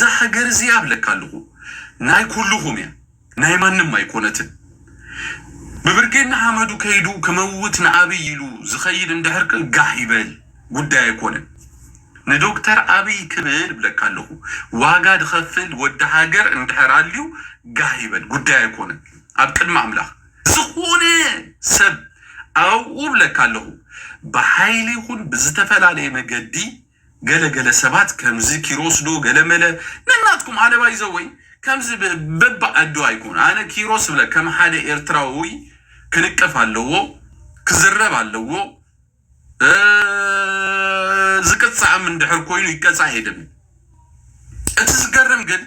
እዛ ሃገር እዚኣ እብለካ ኣለኹ ናይ ኩሉኹም እያ ናይ ማንም ኣይኮነትን ብብርጌድ ንሓመዱ ከይዱ ክመውት ንኣብይ ኢሉ ዝኸይድ እንድሕር ከ ጋሕ ይበል ጉዳይ ኣይኮነን ንዶክተር ኣብይ ክብል እብለካ ኣለኹ ዋጋ ድኸፍል ወዲ ሃገር እንድሕር ኣልዩ ጋሕ ይበል ጉዳይ ኣይኮነን ኣብ ቅድሚ ኣምላኽ ዝኾነ ሰብ ኣብኡ እብለካ ኣለኹ ብሓይሊ ይኹን ብዝተፈላለየ መገዲ ገለ ገለ ሰባት ከምዚ ኪሮስ ዶ ገለ መለ ነናትኩም ኣለባይ ዘወይ ከምዚ በብዓዱ ኣይኮን ኣነ ኪሮስ እብለ ከም ሓደ ኤርትራውይ ክንቀፍ ኣለዎ ክዝረብ ኣለዎ ዝቅጻዕም እንድሕር ኮይኑ ይቀጻዕ እየ ድብል እቲ ዝገርም ግን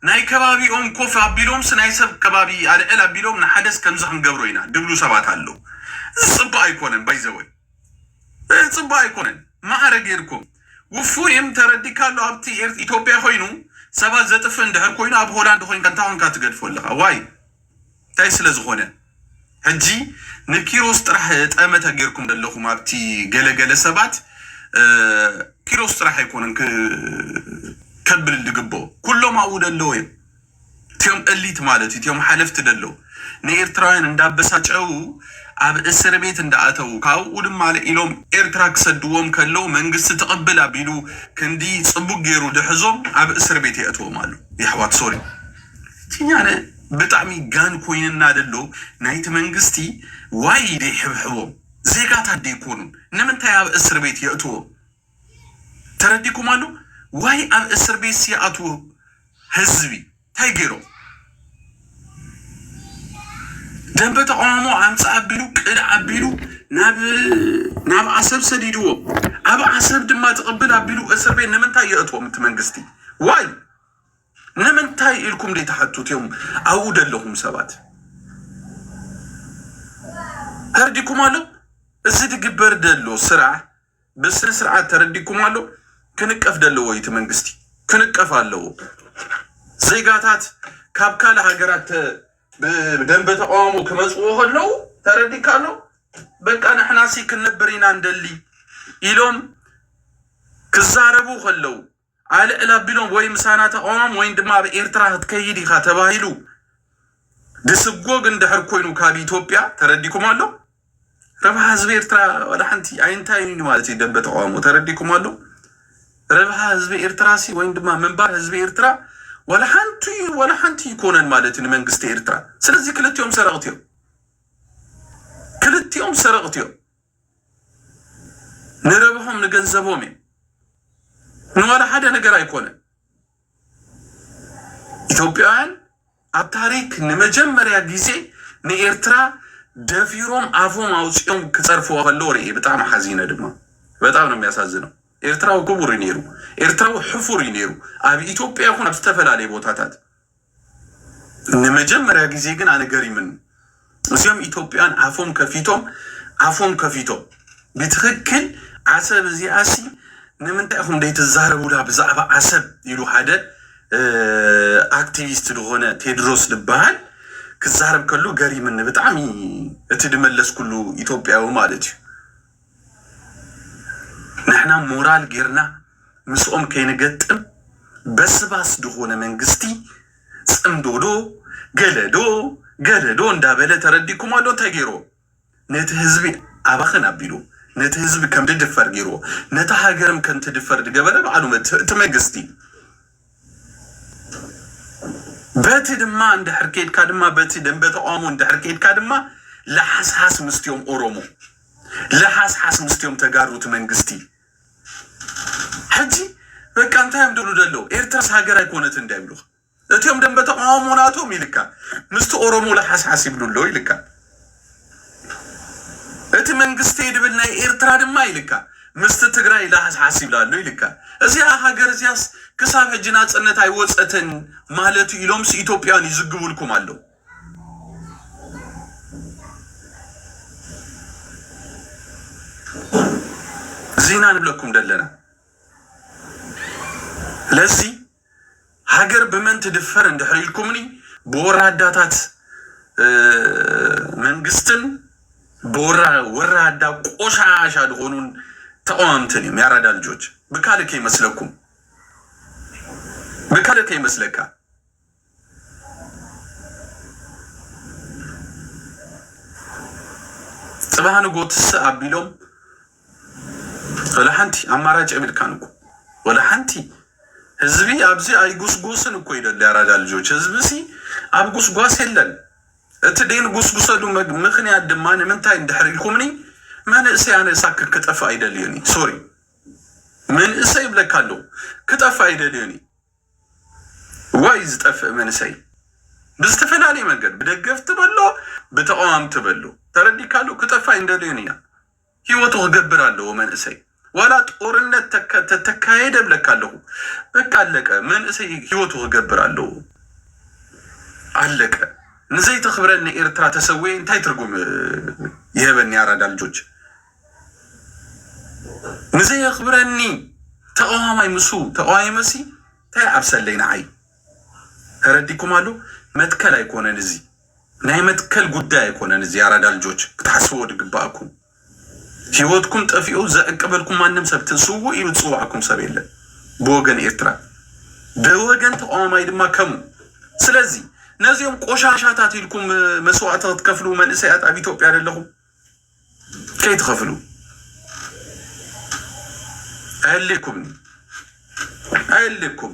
ናይ ከባቢኦም ኮፍ ኣቢሎምስ ናይ ሰብ ከባቢ ኣልዕል ኣቢሎም ንሓደስ ከምዚ ክንገብሮ ኢና ድብሉ ሰባት ኣለዉ እዚ ጽቡቅ ኣይኮነን ባይዘወይ። እህ ጽቡቅ ኣይኮነን ማዕረ ጌርኩም ውፉይም ተረዲካ ኣሎ ኣብቲ ኤርት ኢትዮጵያ ኮይኑ ሰባት ዘጥፍእ እንድሕር ኮይኑ ኣብ ሆላንድ ኮንካ እንታይ ኮንካ ትገድፎ ኣለካ ዋይ እንታይ ስለ ዝኮነ ሕጂ ንኪሮስ ጥራሕ ጠመተ ጌርኩም ደለኩም ኣብቲ ገለ ገለ ሰባት ኪሮስ ጥራሕ ኣይኮነን ከብል ድግብኦ ኩሎም ኣብኡ ደለዉ እዮም እትዮም እሊት ማለት እትዮም ሓለፍቲ ደለው ንኤርትራውያን እንዳበሳጨዉ ኣብ እስርቤት እንዳኣተዉ ካብኡ ድማ ኢሎም ኤርትራ ክሰድዎም ከለው መንግስቲ ትቅብል ኣቢሉ ክንዲ ጽቡቅ ጌሩ ድሕዞም ኣብ እስርቤት የእትዎም ኣሎ የሕዋት ሶሪ እቲ ኣነ ብጣዕሚ ጋን ኮይንና ደሎ ናይቲ መንግስቲ ዋይ ደይሕብሕቦም ዜጋታት ደይኮኑን ንምንታይ ኣብ እስርቤት የእትዎም ተረዲኩም ኣሎ ዋይ ኣብ እስርቤት ስይኣትዉ ህዝቢ ታይ ገይሮም ደንበ ተቃዋሞ ኣምፅ ኣቢሉ ቅድ ኣቢሉ ናብ ኣሰብ ሰዲድዎም ኣብ ኣሰብ ድማ ትቅብል ኣቢሉ እስርቤት ንምንታይ የእትዎም እቲ መንግስቲ ዋይ ንምንታይ ኢልኩም ደይተሓቱት እዮም ኣብኡ ደለኹም ሰባት ተረዲኩም ኣሎ እዚ ድግበር ደሎ ስራሕ ብስነ ስርዓት ተረዲኩም ኣሎ ክንቀፍ ደለዎ እዩ እቲ መንግስቲ ክንቀፍ ኣለዎ ዜጋታት ካብ ካልእ ሃገራት ተ- ብደንበ ተቃውሞ ክመፅዎ ከለዉ ተረዲካ ኣሎ በቃ ንሕናሲ ክንነብር ኢና እንደሊ ኢሎም ክዛረቡ ከለዉ ኣልዕል ኣቢሎም ወይ ምሳና ተቓወም ወይን ድማ ኣብ ኤርትራ ክትከይድ ኢኻ ተባሂሉ ድስጎግ እንድሕር ኮይኑ ካብ ኢትዮጵያ ተረዲኩም ኣሎ? ረብሓ ህዝቢ ኤርትራ ዋላ ሓንቲ ኣይንታዩን እዩ ማለት እዩ ደንበ ተቓውሞ ተረዲኩም ኣሎ? ረብሓ ህዝቢ ኤርትራ ሲ ወይን ድማ ምንባር ህዝቢ ኤርትራ ዋላ ሓንቲ እዩ ዋላ ሓንቲ ኣይኮነን ማለት እዩ ንመንግስቲ ኤርትራ። ስለዚ ክልቲኦም ሰረቕቲ እዮም ክልቲኦም ሰረቕቲ እዮም። ንረብሖም ንገንዘቦም እዩ ንዋላ ሓደ ነገር ኣይኮነን። ኢትዮጵያውያን ኣብ ታሪክ ንመጀመርያ ግዜ ንኤርትራ ደፊሮም ኣፎም ኣውፅኦም ክፀርፍዋ ከለዎ ርእ ብጣዕሚ ሓዚነ ድማ በጣም ነው የሚያሳዝነው። ኤርትራዊ ክቡር እዩ ነይሩ። ኤርትራዊ ሕፉር እዩ ነይሩ ኣብ ኢትዮጵያ ይኹን ኣብ ዝተፈላለዩ ቦታታት ንመጀመርያ ግዜ ግን ኣነ ገሪምኒ እዚኦም ኢትዮጵያን ኣፎም ከፊቶም ኣፎም ከፊቶም ብትክክል ዓሰብ እዚኣሲ ንምንታይ ኢኹም ዘይትዛረቡላ ብዛዕባ ዓሰብ ኢሉ ሓደ ኣክቲቪስት ዝኾነ ቴድሮስ ዝበሃል ክዛረብ ከሎ ገሪምኒ ብጣዕሚ እቲ ድመለስኩሉ ኢትዮጵያዊ ማለት እዩ። ንሕና ሞራል ጌርና ምስኦም ከይንገጥም በስባስ ድኾነ መንግስቲ ጽምዶ ዶ ገለ ዶ ገለ ዶ እንዳበለ ተረዲእኩሞ ኣሎ እንታይ ጌርዎ ነቲ ህዝቢ ኣባኽን ኣቢሉ ነቲ ህዝቢ ከምድድፈር ጌርዎ ነታ ሃገርም ከምትድፈር ድገበረ ባዕሉ እቲ መንግስቲ በቲ ድማ እንድሕር ኬድካ ድማ በቲ ደንበ ተቃውሞ እንድሕር ኬድካ ድማ ለሓስሓስ ምስቲኦም ኦሮሞ ለሓስሓስ ምስቲኦም ተጋሩ እቲ መንግስቲ ሕጂ በቃ እንታይ እዮም ድብሉ ደለው ኤርትራስ ሃገር ኣይኮነትን እንዳ ይብሉኻ እቲኦም ደንበ ተቃውሞ ናቶም ኢልካ ምስቲ ኦሮሞ ለሓስሓስ ይብሉ ኣለው ኢልካ እቲ መንግስተይ ድብል ናይ ኤርትራ ድማ ኢልካ ምስቲ ትግራይ ላሓስሓስ ይብል ኣሎ ኢልካ እዚኣ ሃገር እዚኣስ ክሳብ ሕጂ ናጽነት ኣይወጸትን ማለት እዩ ኢሎምስ ኢትዮጵያውያን ይዝግቡልኩም ኣለው። እዚ ኢና ንብለኩም ደለና ለዚ ሃገር ብመን ትድፈር እንድሕር ኢልኩምኒ ብወራዳታት መንግስትን ወራዳ ቆሻሻ ድኾኑን ተቐዋምትን እዮም ያራዳ ልጆች ብካልእ ከይመስለኩም ብካልእ ከይመስለካ ጽባህ ንጎ ትስእ ኣቢሎም ወላ ሓንቲ ኣማራጭ የብልካን እኮ ወላ ሓንቲ ህዝቢ ኣብዚ ኣይጉስጉስን እኮ ይደሊ ኣራዳ ልጆች ህዝቢ ሲ ኣብ ጉስጓስ የለን እቲ ዴን ጉስጉሰሉ ምክንያት ድማ ንምንታይ እንድሕር ኢልኩምኒ መንእሰይ ኣነ ሳክን ክጠፍ ኣይደልዮኒ ሶሪ መንእሰይ ይብለካ ኣለዉ ክጠፍ ኣይደልዮኒ ዋይ ዝጠፍእ መንእሰይ ብዝተፈላለየ መንገድ ብደገፍቲ በሎ ብተቃዋምቲ በሎ ተረዲካሉ ክጠፍ ኣይንደልዮን ኢና ሂወቱ ክገብር ኣለዎ መንእሰይ ዋላ ጦርነት ተተካየደ እብለካ ኣለኩ በቃ ኣለቀ መንእሰይ ሂወቱ ክገብር ኣለዎ ኣለቀ ንዘይ ተክብረኒ ኤርትራ ተሰዊኤ እንታይ ትርጉም ይሀበኒ ኣራዳ ልጆች ንዘይ የክብረኒ ተቃዋማይ ምሱ ተቃዋሚ መሲ እንታይ ዓብሰለይ ንዓይ ተረዲኩም ኣሎ መትከል ኣይኮነን እዚ ናይ መትከል ጉዳይ ኣይኮነን እዚ ያራዳ ልጆች ክትሓስብዎ ድግበኣኩም ሂወትኩም ጠፊኡ ዘዕቅበልኩም ማንም ሰብ ስውእ ኢሉ ዝጽዋዕኩም ሰብ የለን ብወገን ኤርትራ ብወገን ተቃዋማይ ድማ ከሙ ስለዚ ነዚኦም ቆሻሻታት ኢልኩም መስዋእቲ ክትከፍሉ መንእሰያት ኣብ ኢትዮጵያ ዘለኹም ከይትኸፍሉ ኣይልኩም ኣይልኩም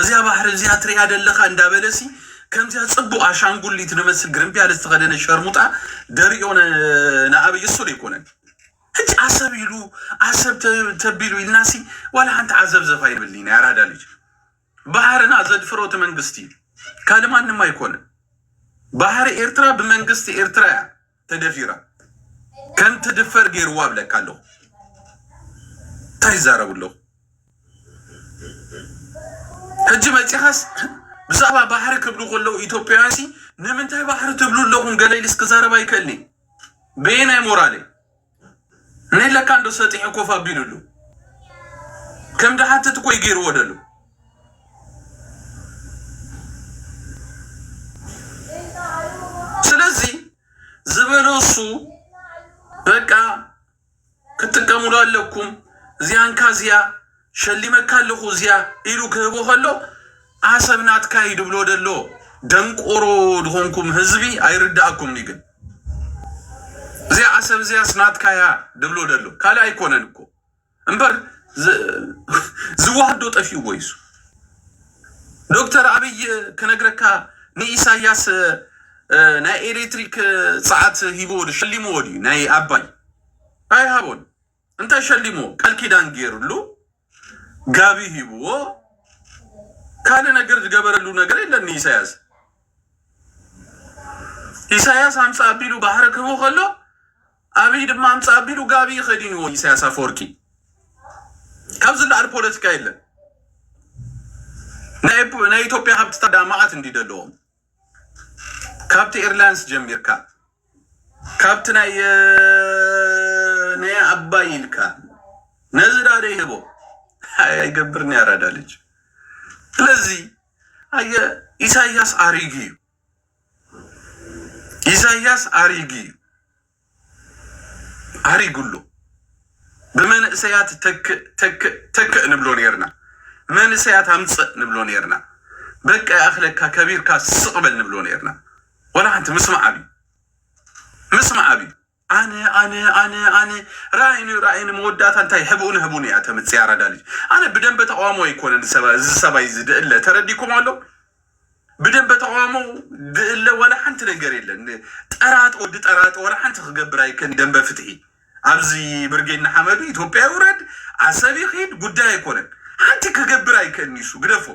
እዚኣ ባሕሪ እዚኣ ትሪኣ ደለኻ እንዳበለሲ ከምዚኣ ጽቡቅ ኣሻንጉሊት ድመስል ግርምቢያለ ዝተኸደነ ሸርሙጣ ደሪኦ ንኣብይ እሱ ደይኮነን ሕጂ ኣሰብ ኢሉ ኣሰብ ተቢሉ ኢልናሲ ዋላ ሓንቲ ዓዘብዘብ ኣይብልኒ ናይ ኣራዳ ልጅ ባሕርና ዘድፍሮ እቲ መንግስቲ እዩ ካልእ ማንም ኣይኮነን ባሕሪ ኤርትራ ብመንግስቲ ኤርትራ እያ ተደፊራ ከም ትድፈር ገይርዋ እብለካ ኣለኹ እንታይ ይዛረቡ ኣለኹ ሕጂ መፂኻስ ብዛዕባ ባሕሪ ክብሉ ከለዉ ኢትዮጵያውያን ሲ ንምንታይ ባሕሪ ትብሉ ኣለኹም ገለ ኢልስ ክዛረብ ኣይክእልኒ በየናይ ሞራለይ ነይ ለካ እንዶ ሰጢሑ ኮፍ ኣቢሉሉ ከም ድሓትት እኮ እዩ ገይርዎ ደሎ። ስለዚ ዝበሎ እሱ በቃ ክትጥቀሙሉ ኣለኩም እዚኣን ካዝያ ሸሊመካ ኣለኹ እዚኣ ኢሉ ክህቦ ከሎ ዓሰብ ናትካ እዩ ድብሎ ደሎ ደንቆሮ ድኾንኩም ህዝቢ ኣይርዳኣኩምኒ ግን እዚኣ ዓሰብ እዚኣስ ናትካ እያ ድብሎ ደሎ ካልእ ኣይኮነን እኮ እምበር ዝዋሃዶ ጠፊኡዎ ይሱ ዶክተር ኣብይ ክነግረካ ንኢሳያስ ናይ ኤሌክትሪክ ፀዓት ሂቦዎ ሸሊምዎ ድዩ ናይ ኣባይ ኣይሃቦን እንታይ ሸሊምዎ? ቃል ኪዳን ጌርሉ፣ ጋቢ ሂብዎ፣ ካልእ ነገር ዝገበረሉ ነገር የለን ንኢሳያስ። ኢሳያስ ኣምፃ ኣቢሉ ባሕሪ ክህቡ ከሎ ኣብይ ድማ ኣምፃ ኣቢሉ ጋቢ ከዲንዎ ኢሳያስ ኣፈወርቂ። ካብ ዝለዓል ፖለቲካ የለን። ናይ ናይ ኢትዮጵያ ሃብትታት ዳማዓት እንዲ ዘለዎም ካብቲ ኤርላይንስ ጀሚርካ ካብቲ ናይ ናይ ኣባይ ኢልካ ነዚ ዳደ ይህቦ ኣይገብርን ያራዳ ልጅ ስለዚ ኣየ ኢሳያስ ኣሪጊ እዩ ኢሳያስ ኣሪጊ እዩ ኣሪጉሎ ብመንእሰያት ተክእ ተክእ ተክእ ንብሎ ነርና መንእሰያት ኣምፅእ ንብሎ ነርና በቃ ይኣኽለካ ከቢርካ ስቕ በል ንብሎ ነርና ዋላ ሓንቲ ምስማዕ ኣብዩ ምስማዕ ኣብዩ ኣነ ኣነ ኣነ ኣነ ራእይኒ ራእይኒ መወዳእታ እንታይ ሕብኡን ህቡን እያ ተምፅእ ኣራዳ ልጅ ኣነ ብደንበ ተቃውሞ ኣይኮነን እዚ ሰባ- እዚ ሰባይ እዚ ድእለ ተረዲኩም ኣሎ ብደንበ ተቃውሞ ድእለ ዋላ ሓንቲ ነገር የለን ጠራጥ ወዲ ጠራጥ ዋላ ሓንቲ ክገብር ኣይከን ደንበ ፍትሒ ኣብዚ ብርጌድ ንሓመዱ ኢትዮጵያ ይውረድ ዓሰብ ይኺድ ጉዳይ ኣይኮነን ሓንቲ ክገብር ኣይከን ይሱ ግደፎ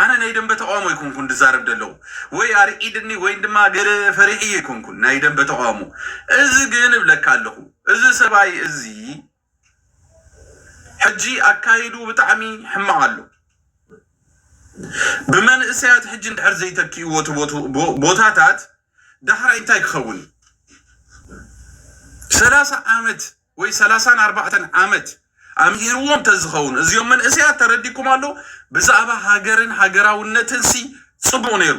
ኣነ ናይ ደምበ ተቃውሞ ኣይኮንኩን ድዛረብ ደለኩ ወይ ኣርዒድኒ ወይ ድማ ገለ ፈሪሒዮ ኣይኮንኩን ናይ ደምበ ተቃውሞ እዚ ግን እብለካ ኣለኩ እዚ ሰብኣይ እዚ ሕጂ ኣካይድኡ ብጣዕሚ ሕማቅ ኣሎ ብመንእሰያት ሕጂ እንድሕር ዘይተኪእዎ እቲ ቦታታት ዳሕራይ እንታይ ክከውን እዩ ሰላሳ ዓመት ወይ ሰላሳን ኣርባዕተን ዓመት ኣምሂርዎም ተዝኸውን እዚኦም መንእሰያት ተረዲኩም ኣሎ ብዛእባ ሃገርን ሃገራውነትንሲ ጽቡቅ ነይሩ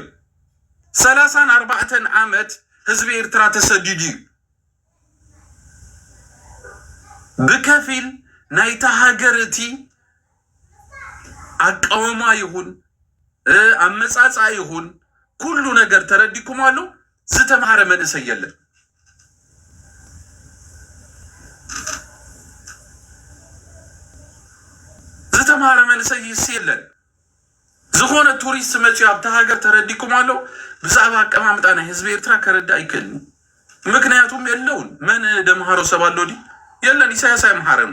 ሰላሳን ኣርባዕተን ዓመት ህዝቢ ኤርትራ ተሰዲዱ እዩ ብከፊል ናይታ ሃገር እቲ ኣቃውማ ይኹን ኣመጻጽኣ ይኹን ኩሉ ነገር ተረዲኩም ኣሎ ዝተማህረ መንእሰይ የለን። ዝተማህረ መንእሰይስ የለን። ዝኾነ ቱሪስት መፅዩ ኣብታ ሃገር ተረዲኩም ኣሎ ብዛዕባ ኣቀማምጣ ናይ ህዝቢ ኤርትራ ከረዳእ ይክእል እዩ። ምክንያቱም የለውን መን ደምሃሮ ሰብ ኣሎ ዲ የለን ኢሳያስ ኣይምሃረን።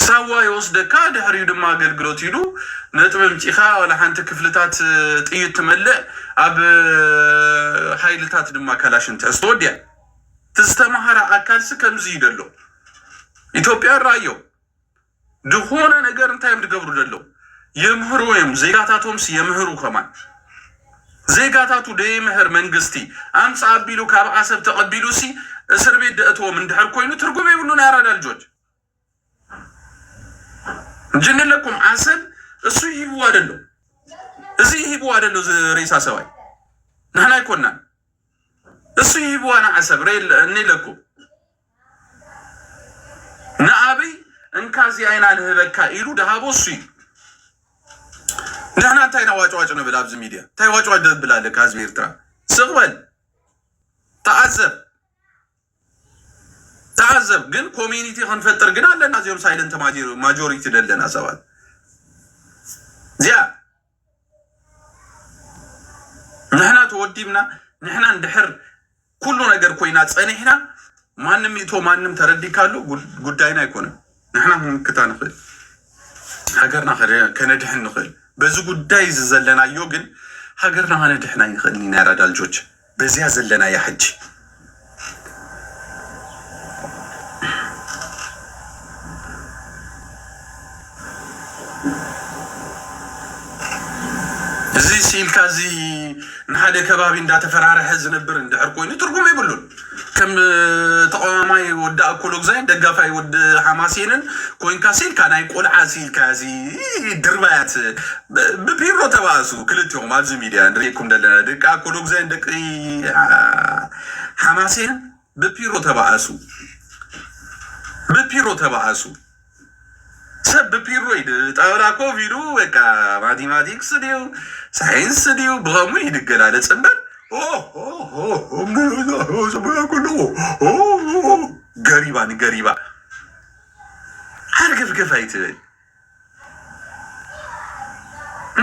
ሳዋ ይወስደካ ድሕሪኡ ድማ ኣገልግሎት ኢሉ ነጥቢ ኣምጺእካ ዋላ ሓንቲ ክፍልታት ጥይት ትመልእ ኣብ ሃይልታት ድማ ካላሽን ትሕዝ ተወዲኣ እቲ ዝተማሃረ ኣካልሲ ከምዚ እዩ ደሎ ኢትዮጵያ ራዮም ድኾነ ነገር እንታይ እዮም ድገብሩ ደለው የምህሩ እዮም ዜጋታቶምስ የምህሩ ከማን ዜጋታቱ ደይምህር መንግስቲ ኣምጽእ ኣቢሉ ካብ ዓሰብ ተቀቢሉሲ እስርቤት ደእትዎም እንድሕር ኮይኑ ትርጉም የብሉን ያራዳ ልጆች ጅንለኩም ዓሰብ እሱ ይሂብዋ ደሎ እዚ ይሂብዋ ደሎ ሬሳ ሰባይ ንሕና ኣይኮናን እሱ ይሂብዋ ንዓሰብ እኔለኩም ንኣብይ እንካ እዚኣ ኢና ንህበካ ኢሉ ድሃቦ እሱ እዩ። ንሕና እንታይ ኢና ዋጭዋጭ ንብል ኣብዚ ሚድያ? እንታይ ዋጭዋጭ ደብል ኣለካ? ህዝቢ ኤርትራ ስቕ በል ተዓዘብ ተዓዘብ። ግን ኮሚኒቲ ክንፈጥር ግን ኣለና እዚኦም ሳይለንት ማጆሪቲ ዘለና ሰባት እዚኣ ንሕና ተወዲብና ንሕና እንድሕር ኩሉ ነገር ኮይና ፀኒሕና ማንም ይእቶ ማንም ተረዲካሉ ጉዳይና ኣይኮነን። ንሕና ክንምክታ ንኽእል ሃገርና ከነድሕን ንኽእል። በዚ ጉዳይ እዚ ዘለናዮ ግን ሃገርና ከነድሕን ኣይንኽእልን ኢና። ያራዳ ልጆች በዚኣ ዘለናያ ሕጂ እዚ ሲኢልካ እዚ ንሓደ ከባቢ እንዳተፈራረሐ ዝነብር እንድሕር ኮይኑ ትርጉም የብሉን። ከም ተቃዋማይ ወዲ ኣኮሎግዛይን ደጋፋይ ወዲ ሓማሴንን ኮንካ ሲኢልካ ናይ ቆልዓ ሲኢልካ እዚ ድርባያት ብፒሮ ተባእሱ ክልቲኹም ኣብዚ ሚድያ ንሪኤኩም ደለና ደቂ ኣኮሎጉዛይን ደቂ ሓማሴን ብፒሮ ተባእሱ ብፒሮ ተባእሱ ሰብ ብፒሮ ይድ ጣውላ ኮፍ ኢሉ በቃ ማቴማቲክስ ድዩ ሳይንስ ድዩ ብኸሙ ይድገላለጽ እምበር ገሪባ ንገሪባ ሓርገፍገፍ ኣይትበል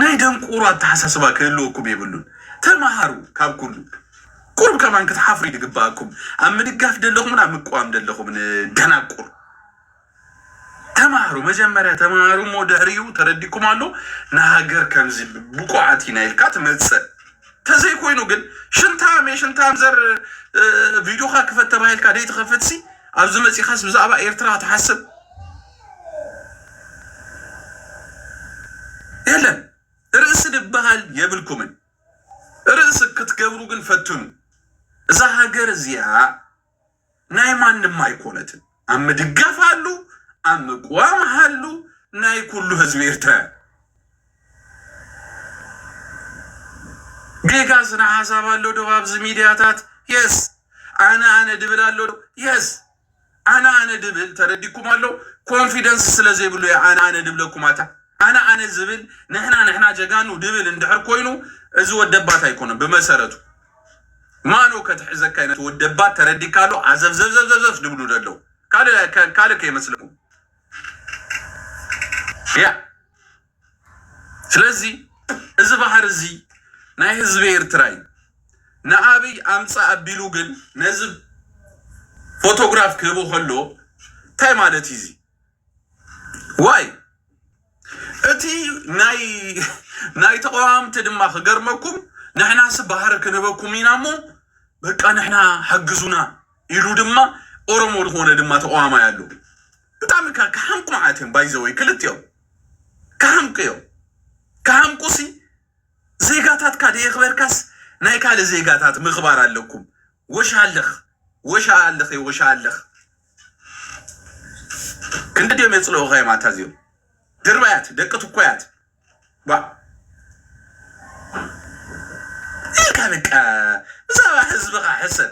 ናይ ደንቆሮ ኣተሓሳስባ ክህልወኩም የብሉን ተማሃሩ ካብ ኩሉ ቁሩብ ከማን ክትሓፍሩ ይግበኣኩም ኣብ ምድጋፍ ደለኹምን ኣብ ምቅዋም ደለኹምን ደናቁር ተማሃሩ መጀመርያ ተማሃሩ እሞ ድሕሪኡ ተረዲኩም ኣሎ ንሃገር ከምዚ ብቁዓት ኢና ኢልካ ትመጽእ ተዘይኮይኑ ግን ሽንታም እየ ሽንታም ዘር ቪድዮኻ ክፈት ተባሂልካ ደይትኸፍትሲ ኣብዚ መጺኻስ ብዛዕባ ኤርትራ ትሓስብ የለን ርእሲ ድበሃል የብልኩምን ርእሲ ክትገብሩ ግን ፈትኑ እዛ ሃገር እዚኣ ናይ ማንም ኣይኮነትን ኣብ ምድጋፍ ኣሉ ኣብ ምቅዋም ሃሉ ናይ ኩሉ ህዝቢ ኤርትራ ጌጋ ስነ ሓሳብ ኣሎ ዶ ኣብዚ ሚድያታት የስ ኣነ ኣነ ድብል ኣሎ ዶ የስ ኣነ ኣነ ድብል ተረዲኩም ኣሎ ኮንፊደንስ ስለ ዘይብሉ እየ ኣነ ኣነ ድብለኩም ኣታ ኣነ ኣነ ዝብል ንሕና ንሕና ጀጋኑ ድብል እንድሕር ኮይኑ እዚ ወደባት ኣይኮነን ብመሰረቱ ማኖ ከትሕዘካ ይነት ወደባት ተረዲካ ኣሎ ኣዘብዘብዘብዘብዘብ ድብሉ ደለው ካልእ ካልእ ከይመስለኩም ያ ስለዚ እዚ ባህሪ እዚ ናይ ህዝቢ ኤርትራ እዩ። ንኣብይ ኣምጽእ ኣቢሉ ግን ነዚ ፎቶግራፍ ክህቦ ከሎ እንታይ ማለት እዩ እዚ ዋይ እቲ ናይ ናይ ተቃዋምቲ ድማ ክገርመኩም ንሕናስ ባህሪ ክንህበኩም ኢና እሞ በቃ ንሕና ሓግዙና ኢሉ ድማ ኦሮሞ ዝኾነ ድማ ተቃዋማይ ኣሎ ብጣዕሚ ካብ ክሓምቁ መዓት እዮም ባይዘወይ ክልቲኦም ክሃምቁ እዮም ክሃምቁሲ ዜጋታትካ ደየኽበርካስ ናይ ካልእ ዜጋታት ምኽባር ኣለኩም ወሻልኽ ወሻልኽ እየ ወሻልኽ ክንዲ ድዮም የፅልኡኻ እዮም ኣታ እዚኦም ድርባያት ደቂ ትኮያት ባ ኢልካ በቃ ብዛዕባ ህዝብኻ ሕሰብ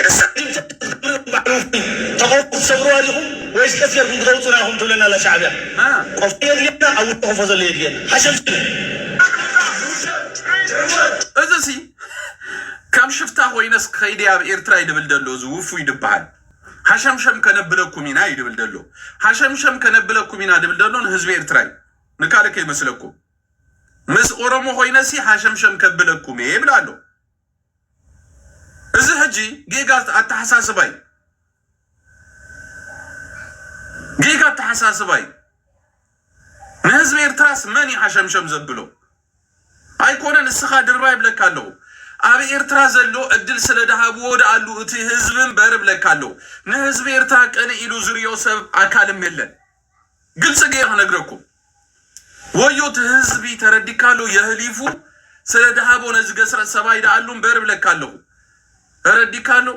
ኤርትራ ክትህሉ ባዕልኹም ተቐውሙ ትሰብርዋ ዲኹም ወይስ ቀስ ጌርኩም ክተውጹና ኢኹም ትብለና ኣላ ሻዕብያ ቆፎ የድልየና ኣብ ውሽጢ ቆፎ ዘሎ የድልየና ሓሸምሸም። እዚሲ ከም ሽፍታ ኮይነስ ከይደ ኣብ ኤርትራ እዩ ድብል ደሎ እዚ ውፉይ ድበሃል ሃሸምሸም ከነብለኩም ኢና እዩ ድብል ደሎ ሃሸምሸም ከነብለኩም ኢና ድብል ደሎ ንህዝቢ ኤርትራ እዩ ንካልእ ከይመስለኩም ምስ ኦሮሞ ኮይነሲ ሃሸምሸም ከብለኩም እየ ይብል ኣሎ እዚ ሕጂ ጌጋ ኣተሓሳስባ እዩ። ጌጋ ኣተሓሳስባ እዩ። ንህዝቢ ኤርትራስ መን እዩ ሓሸምሸም ዘብሎ? ኣይኮነን እስኻ ድራር ይብለካ ኣለኹ። ኣብ ኤርትራ ዘሎ ዕድል ስለ ድሃብዎ ድኣሉ እቲ ህዝቢ እምበር እብለካ ኣለኹ። ንህዝቢ ኤርትራ ቅንእ ኢሉ ዝሪኦ ሰብ ኣካልም የለን። ግልፂ ገይረ ክነግረኩም ወዮ እቲ ህዝቢ ተረዲካ ዶ የህሊፉ ስለ ድሃቦ ነዚ ገስረጥ ሰባይ ደኣሉ እምበር እብለካ ኣለኹ ተረዲካ ኣሎ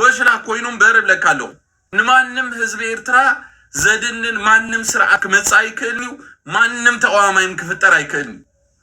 ወሽላ ኮይኑ እምበር እብለካ ኣለኹ ንማንም ህዝቢ ኤርትራ ዘድንን ማንም ስርዓት ክመፅእ ኣይክእልን እዩ ማንም ተቃዋማይም ክፍጠር ኣይክእልን እዩ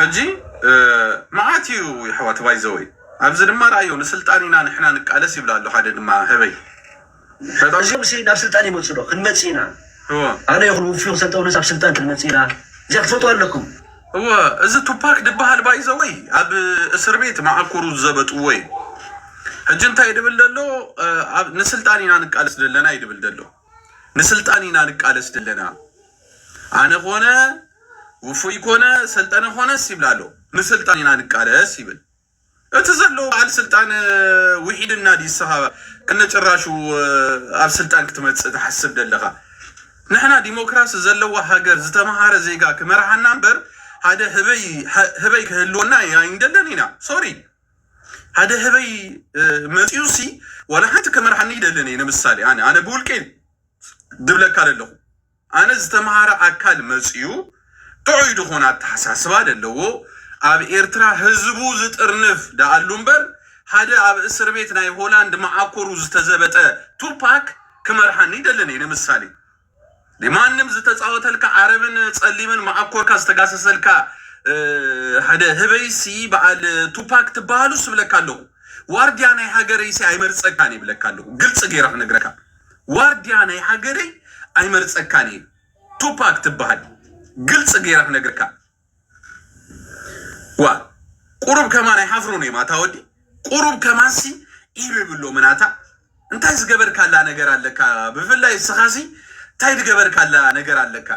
ሕጂ መዓት ኢዩ የሕዋት ባይዘወይ ኣብዚ ድማ ረኣዮ ንስልጣን ኢና ንሕና ንቃለስ ይብል ኣሎ ሓደ ድማ ህበይ ፈጣሪ። እዚኦም ሲ ናብ ስልጣን ይመጹ ዶ ክንመጽእ ኢና እወ ኣነ ይኹን ውፉይ ክሰልጠውነስ ኣብ ስልጣን ክንመጽእ ኢና እዚኣ ክትፈልጥዋ ኣለኩም። እወ እዚ ቱፓክ ድበሃል ባይዘወይ ኣብ እስር ቤት መዓኮሩ ዝዘበጥዎ ኢዩ ሕጂ እንታይ ድብል ደሎ ንስልጣን ኢና ንቃለስ ደለና ኢዩ ድብል ደሎ ንስልጣን ኢና ንቃለስ ደለና። ኣነ ኮነ ውፉይ ኮነ ሰልጠነ ኮነስ ይብል ኣሎ ንስልጣን ኢና ንቃለስ ይብል እቲ ዘሎ በዓል ስልጣን ውሒድና ድዩ እስኻ ከነጭራሹ ኣብ ስልጣን ክትመፅእ ትሓስብ ዘለኻ ንሕና ዲሞክራሲ ዘለዋ ሃገር ዝተምሃረ ዜጋ ክመርሓና እምበር ሓደ ህበይ ህበይ ክህልወና ኣይንደለን ኢና ሶሪ ሓደ ህበይ መፂኡ ሲ ዋላ ሓንቲ ክመርሓኒ ይደለን እየ ንምሳሌ ኣነ ኣነ ብውልቀይ ዝብለካ ለለኹ ኣነ ዝተምሃረ ኣካል መፅዩ ጥዑይ ዝኾነ ኣተሓሳስባ ለለዎ ኣብ ኤርትራ ህዝቡ ዝጥርንፍ ደኣሉ እምበር ሓደ ኣብ እስርቤት ናይ ሆላንድ መዓኮሩ ዝተዘበጠ ቱፓክ ክመርሓኒ ይደልን እየ ንምሳሌ ማንም ዝተፃወተልካ ዓረብን ፀሊምን መዓኮርካ ዝተጋሰሰልካ ሓደ ህበይሲ በዓል ቱፓክ ትበሃሉስ እብለካ ኣለኹ ዋርድያ ናይ ሃገረይሲ ኣይመርፀካን እየ እብለካ ኣለኹ ግልፂ ገይረ ክነግረካ ዋርድያ ናይ ሃገረይ ኣይመርጸካን እየ ቱፓክ ትብሃል ግልጺ ገይረ ክነግርካ ዋእ ቁሩብ ከማን ኣይሓፍሩን እዮም ኣታ ወዲ ቁሩብ ከማንሲ ኢሉ ይብሎምን ኣታ እንታይ ዝገበርካላ ነገር ኣለካ ብፍላይ እስኻሲ እንታይ ዝገበርካላ ነገር ኣለካ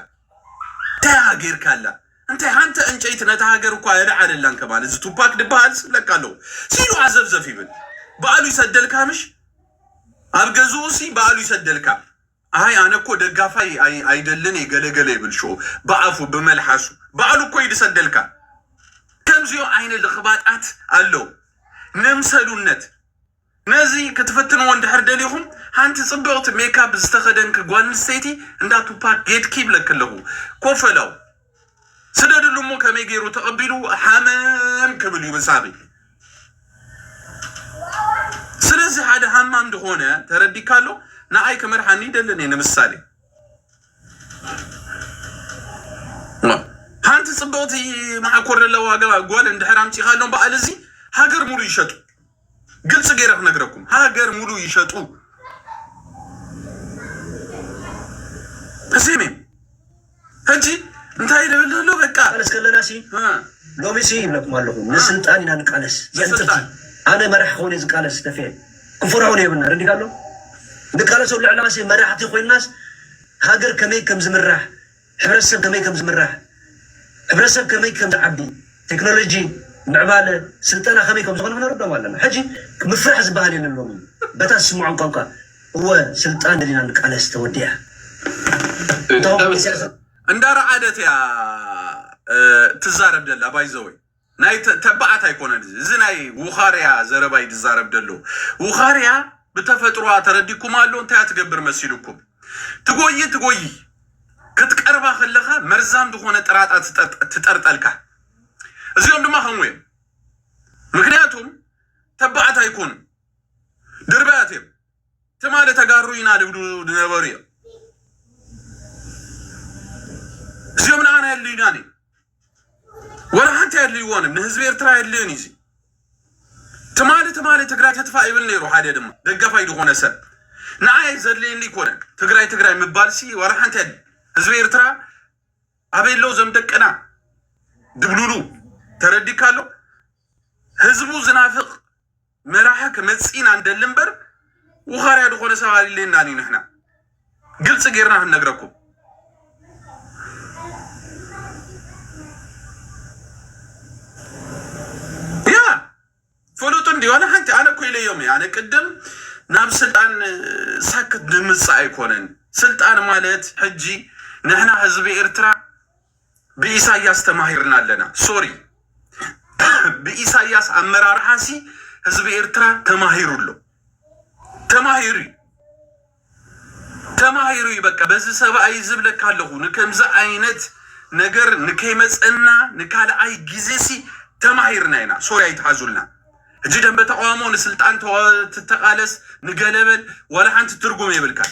እንታይ ገይርካላ እንታይ ሓንቲ ዕንጨይቲ ነታ ሃገር እኳ የልዓለላን ከማን እዚ ቱፓክ ድበሃል ዝብለካ ኣለኹ ሲሉ ዓዘብዘፍ ይብል በኣሉ ይሰደልካ ምሽ ኣብ ገዝኡ ሲ ባዕሉ ይሰደልካ ኣይ ኣነ እኮ ደጋፋይ ኣይ ኣይደልን እየ ገለ ገለ ይብል ሽኡ ብኣፉ ብመልሓሱ ባዕሉ እኮ እዩ ድሰደልካ ከምዚኦ ዓይነ ልኽባጣት ኣለው ነምሰሉነት ነዚ ክትፍትንዎ እንድሕር ደሊኹም ሓንቲ ጽብቕቲ ሜካፕ ዝተኸደንኪ ጓል ኣንስተይቲ እንዳ ቱፓክ ጌድኪ ይብለኪ ኣለኹ ኮፈላው ስደድሉ እሞ ከመይ ገይሩ ተቐቢሉ ሃመም ክብል እዩ ብሳቢ ስለዚ ሓደ ሃማም ዝኾነ ተረዲካ ኣሎ ንኣይ ክመርሓኒ ይደልን እየ ንምሳሌ ሓንቲ ፅብቕቲ መዓኮር ለለዋ ጓል እንድሕር ኣምፂኻሎም በዓል እዚ ሃገር ሙሉ ይሸጡ ግልፂ ገይረ ክነግረኩም ሃገር ሙሉ ይሸጡ እዚ ሜን ሕጂ እንታይ ደብል ኣሎ በቃ ቃለስ ከለና ሲ ሎሚ ሲ ይብለኩም ኣለኹ ንስልጣን ኢና ንቃለስ ንስልጣን ኣነ መራሕ ኾነ ዝቃለስ ተፌ ክፈርዖ የብልና ረዲካ ኣሎ ንቃለሶ ልዕላሲ መራሕቲ ኮይናስ ሃገር ከመይ ከም ዝምራሕ ሕብረተሰብ ከመይ ከም ዝምራሕ፣ ሕብረተሰብ ከመይ ከም ዝዓቢ፣ ቴክኖሎጂ፣ ምዕባለ፣ ስልጠና ከመይ ከም ዝኾነ ምነረድኦም ኣለና። ሕጂ ምፍራሕ ዝበሃል የለን ሎሚ በታ ዝስምዖም ቋንቋ እወ ስልጣን ደሊና ንቃለስ ተወዲኣ እታ እንዳ ረዓደት እያ ትዛረብ ዘላ ባይዘወይ ናይ ተ ተባዓት ኣይኮነን እዚ እዚ ናይ ውኻርያ ዘረባ እዩ ዝዛረብ ደሎ ውኻርያ ብተፈጥሮኣ ተረዲኩም ኣሎ እንታይ እያ ትገብር መሲሉኩም ትጎይ ትጎይ ክትቀርባ ከለኻ መርዛም ዝኾነ ጥራጣ ትጠርጠ ትጠርጠልካ እዚኦም ድማ ከምኡ እዮም ምክንያቱም ተባዓት ኣይኮኑን ድርባያት እዮም ትማሊ ተጋሩ ኢና ድብሉ ዝነበሩ እዮም እዚኦም ንኣና የድልዩናን እዮም ወላ ሓንቲ ኣየድልይዎን ንህዝቢ ኤርትራ ኣየድልዮን እዩ። ትማሊ ትማሊ ትግራይ ትጥፋእ ይብል ነይሩ ሓደ ድማ ደጋፋይ ዝኾነ ሰብ ንዓይ ዘድልየኒ ኣይኮነን ትግራይ ትግራይ ምባልሲ ወላ ሓንቲ ኣየድልይ ህዝቢ ኤርትራ ኣበይ ኣለዉ ዘም ደቅና ድብሉሉ ተረዲካ ኣሎ ህዝቡ ዝናፍቅ መራሒ ክመጽእ ኢና ንደሊ እምበር ውኻርያ ዝኾነ ሰብ ኣልለየናን እዩ ንሕና ግልጺ ጌርና ክንነግረኩም። ፍሉጥ እንዲ ዋላ ሓንቲ ኣነ እኮ ኢለዮም ኣነ ቅድም ናብ ስልጣን ሳክት ንምጽእ ኣይኮነን ስልጣን ማለት ሕጂ ንሕና ህዝቢ ኤርትራ ብኢሳያስ ተማሂርና ኣለና ሶሪ ብኢሳያስ ኣመራርሓሲ ህዝቢ ኤርትራ ተማሂሩ ኣሎ ተማሂሩ ተማሂሩ በቃ በዚ ሰብኣይ ዝብለካ ኣለኹ ንከምዚ ዓይነት ነገር ንከይመፀና ንካልኣይ ግዜሲ ተማሂርና ኢና ሶሪ ኣይትሓዙልና ሕጂ ደንበ ተቃውሞ ንስልጣን ትተቃለስ ንገለበል ዋላ ሓንቲ ትርጉም የብልካን፣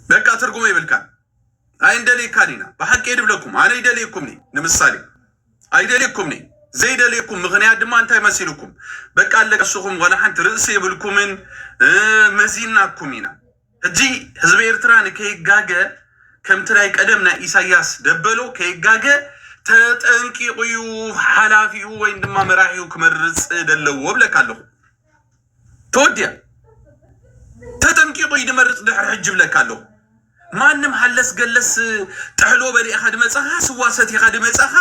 በቃ ትርጉም የብልካን። ኣይንደልየካን ኢና ብሓቂ ድብለኩም ኣነ ይደልየኩምኒ ንምሳሌ ኣይደልየኩምኒ ዘይደልየኩም ምክንያት ድማ እንታይ መሲልኩም በቃ ኣለቀስኹም ዋላ ሓንቲ ርእሲ የብልኩምን መዚናኩም ኢና ሕጂ ህዝቢ ኤርትራ ንከይጋገ ከምቲ ናይ ቀደም ናይ ኢሳያስ ደበሎ ከይጋገ ተጠንቂቑ እዩ ሓላፊኡ ወይም ድማ መራሒኡ ክመርጽ ደለዎ ብለካ ኣለኹ። ተወዲያ ተጠንቂቑ እዩ ድመርጽ ድሕሪ ሕጂ ብለካ ኣለኹ። ማንም ሃለስ ገለስ ጥሕሎ በሊእኻ ድመጻኻ ስዋ ሰቲኻ ድመጻኻ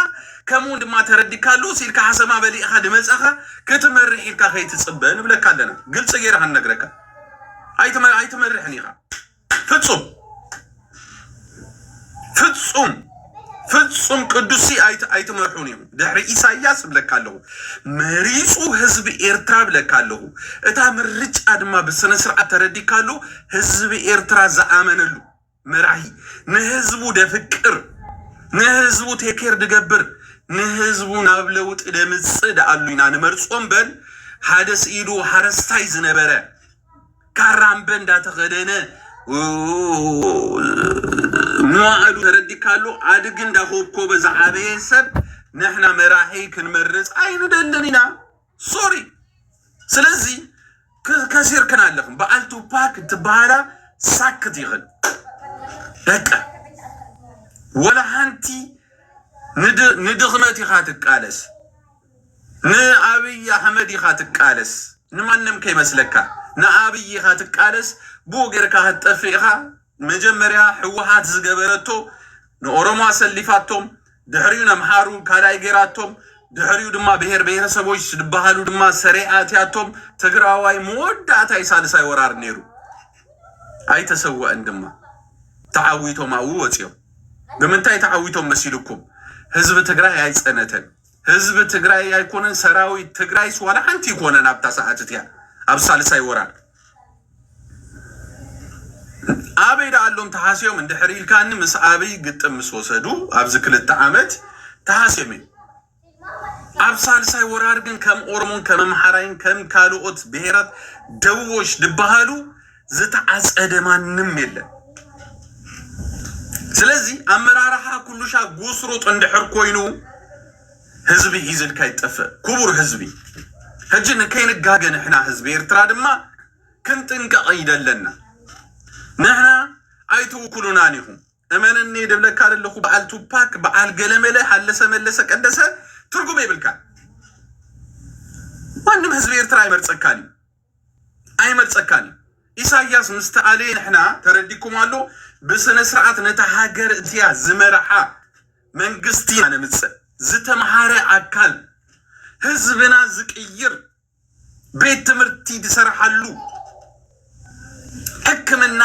ከምኡውን ድማ ተረዲካ ኣሎ ሲልካ ሓሰማ በሊእኻ ድመጻኻ ክትመርሕ ኢልካ ከይትጽበ ንብለካ ኣለና። ግልጺ ገይረ ክንነግረካ ኣይትመ- ኣይትመርሕን ኢኻ ፍጹም ፍጹም ፍጹም ቅዱሲ ኣይት- ኣይትመርሑን ኢኹም ድሕሪ ኢሳያስ ብለካ ኣለኹ መሪጹ ህዝቢ ኤርትራ ብለካ ኣለኹ እታ ምርጫ ድማ ብስነ ስርዓት ተረዲካ ኣሎ ህዝቢ ኤርትራ ዝኣመነሉ መራሂ ንህዝቡ ደፍቅር ንህዝቡ ቴኬር ድገብር ንህዝቡ ናብ ለውጢ ደምጽእ ደኣሉ ኢና ንመርጾ እምበር ሓደ ስኢዱ ሃረስታይ ዝነበረ ካራምበ እንዳተኸደነ መዋእሉ ተረዲካሉ ኣድጊ እንዳኾብኮበ ዝዓበየ ሰብ ንሕና መራሒ ክንመርጽ ኣይንደልን ኢና። ሶሪ ስለዚ ከሲርክን ኣለኽን በዓል ቱፓክ ትበሃላ ሳክት ይኽን ደቀ ወላ ሓንቲ ንድኽነት ኢኻ ትቃለስ ንኣብይ ኣሕመድ ኢኻ ትቃለስ ንማንም ከይመስለካ ንኣብይ ኢኻ ትቃለስ ብኡ ጌርካ ክትጠፍእ ኢኻ መጀመርያ ሕወሓት ዝገበረቶ ንኦሮሞ ኣሰሊፋቶም ድሕሪኡ ነምሓሩ ካልኣይ ጌራቶም ድሕሪኡ ድማ ብሄር ብሄረሰቦች ዝበሃሉ ድማ ሰሬ ኣእትያቶም ትግራዋይ መወዳእታይ ሳልሳይ ወራር ነይሩ ኣይተሰወእን ድማ ተዓዊቶም ኣብኡ ወፂኦም ብምንታይ ተዓዊቶም መሲልኩም ህዝቢ ትግራይ ኣይፀነተን ህዝቢ ትግራይ ኣይኮነን ሰራዊት ትግራይስ ዋላ ሓንቲ ይኮነን ኣብታ ሰዓት እቲያ ኣብ ሳልሳይ ወራር ኣበይ ደኣሎም ተሃስዮም እንድሕር ኢልካኒ ምስ ኣብይ ግጥም ምስ ወሰዱ ኣብዚ ክልተ ዓመት ተሃስዮም እዮም ኣብ ሳልሳይ ወራር ግን ከም ኦሮሞን ከም ኣምሓራይን ከም ካልኦት ብሄራት ደቡቦች ድበሃሉ ዝተዓፀደ ማንም የለን ስለዚ ኣመራርሓ ኩሉሻ ጉስሩጥ እንድሕር ኮይኑ ህዝቢ ሂዝልካ ይጠፍእ ኩቡር ህዝቢ ህጂ ንከይንጋገ ንሕና ህዝቢ ኤርትራ ድማ ክንጥንቀቅ ይደለና ንሕና ኣይትውኩሉናን ኢኩም እመነኒ ድብለካ ደለኩ በዓል ቱፓክ በዓል ገለመለ ሃለሰ መለሰ ቀደሰ ትርጉም የብልካን ማንም ህዝቢ ኤርትራ ኣይመርጸካን እዩ ኣይመርጸካን እዩ ኢሳያስ ምስ ተኣለየ ንሕና ተረዲኩም ኣሎ ብስነስርዓት ነታ ሃገር እቲኣ ዝመርሓ መንግስቲ ኢና ነምጽእ ዝተምሃረ ኣካል ህዝብና ዝቅይር ቤት ትምህርቲ ዝሰርሓሉ ሕክምና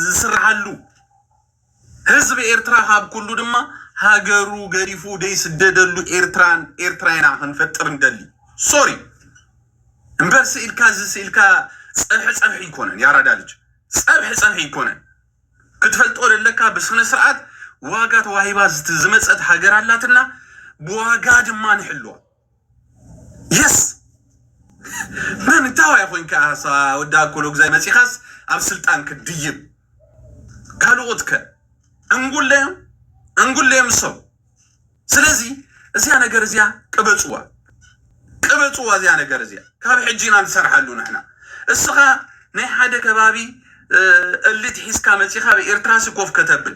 ዝስርሓሉ ህዝቢ ኤርትራ ካብ ኩሉ ድማ ሃገሩ ገዲፉ ደይስደደሉ ኤርትራን ኤርትራይና ክንፈጥር ንደሊ ሶሪ እምበር ስኢልካ እዚ ስኢልካ ጸብሒ ጸብሒ ይኮነን ያራዳ ልጅ ጸብሒ ጸብሒ ይኮነን ክትፈልጦ ደለካ ብስነ ስርዓት ዋጋ ተዋሂባ ዝመጸት ሃገር ኣላትና ብዋጋ ድማ ንሕልዋ የስ መን እንታይ ዋይ ኮንካ ሳ ወዲ ኣኮሎ ግዛይ መጺኻስ ኣብ ስልጣን ክትድይብ ካልኦት ከ ዕንጉለዮም ዕንጉለዮም እሶም ስለዚ እዚያ ነገር እዚያ ቅበፅዋ ቅበፅዋ እዚያ ነገር እዚያ ካብ ሕጂ ኢና ንሰርሓሉ ንሕና እስኻ ናይ ሓደ ከባቢ እ፣ እሊት ሒዝካ መጺኻ ኣብ ኤርትራሲ ኮፍ ከተብል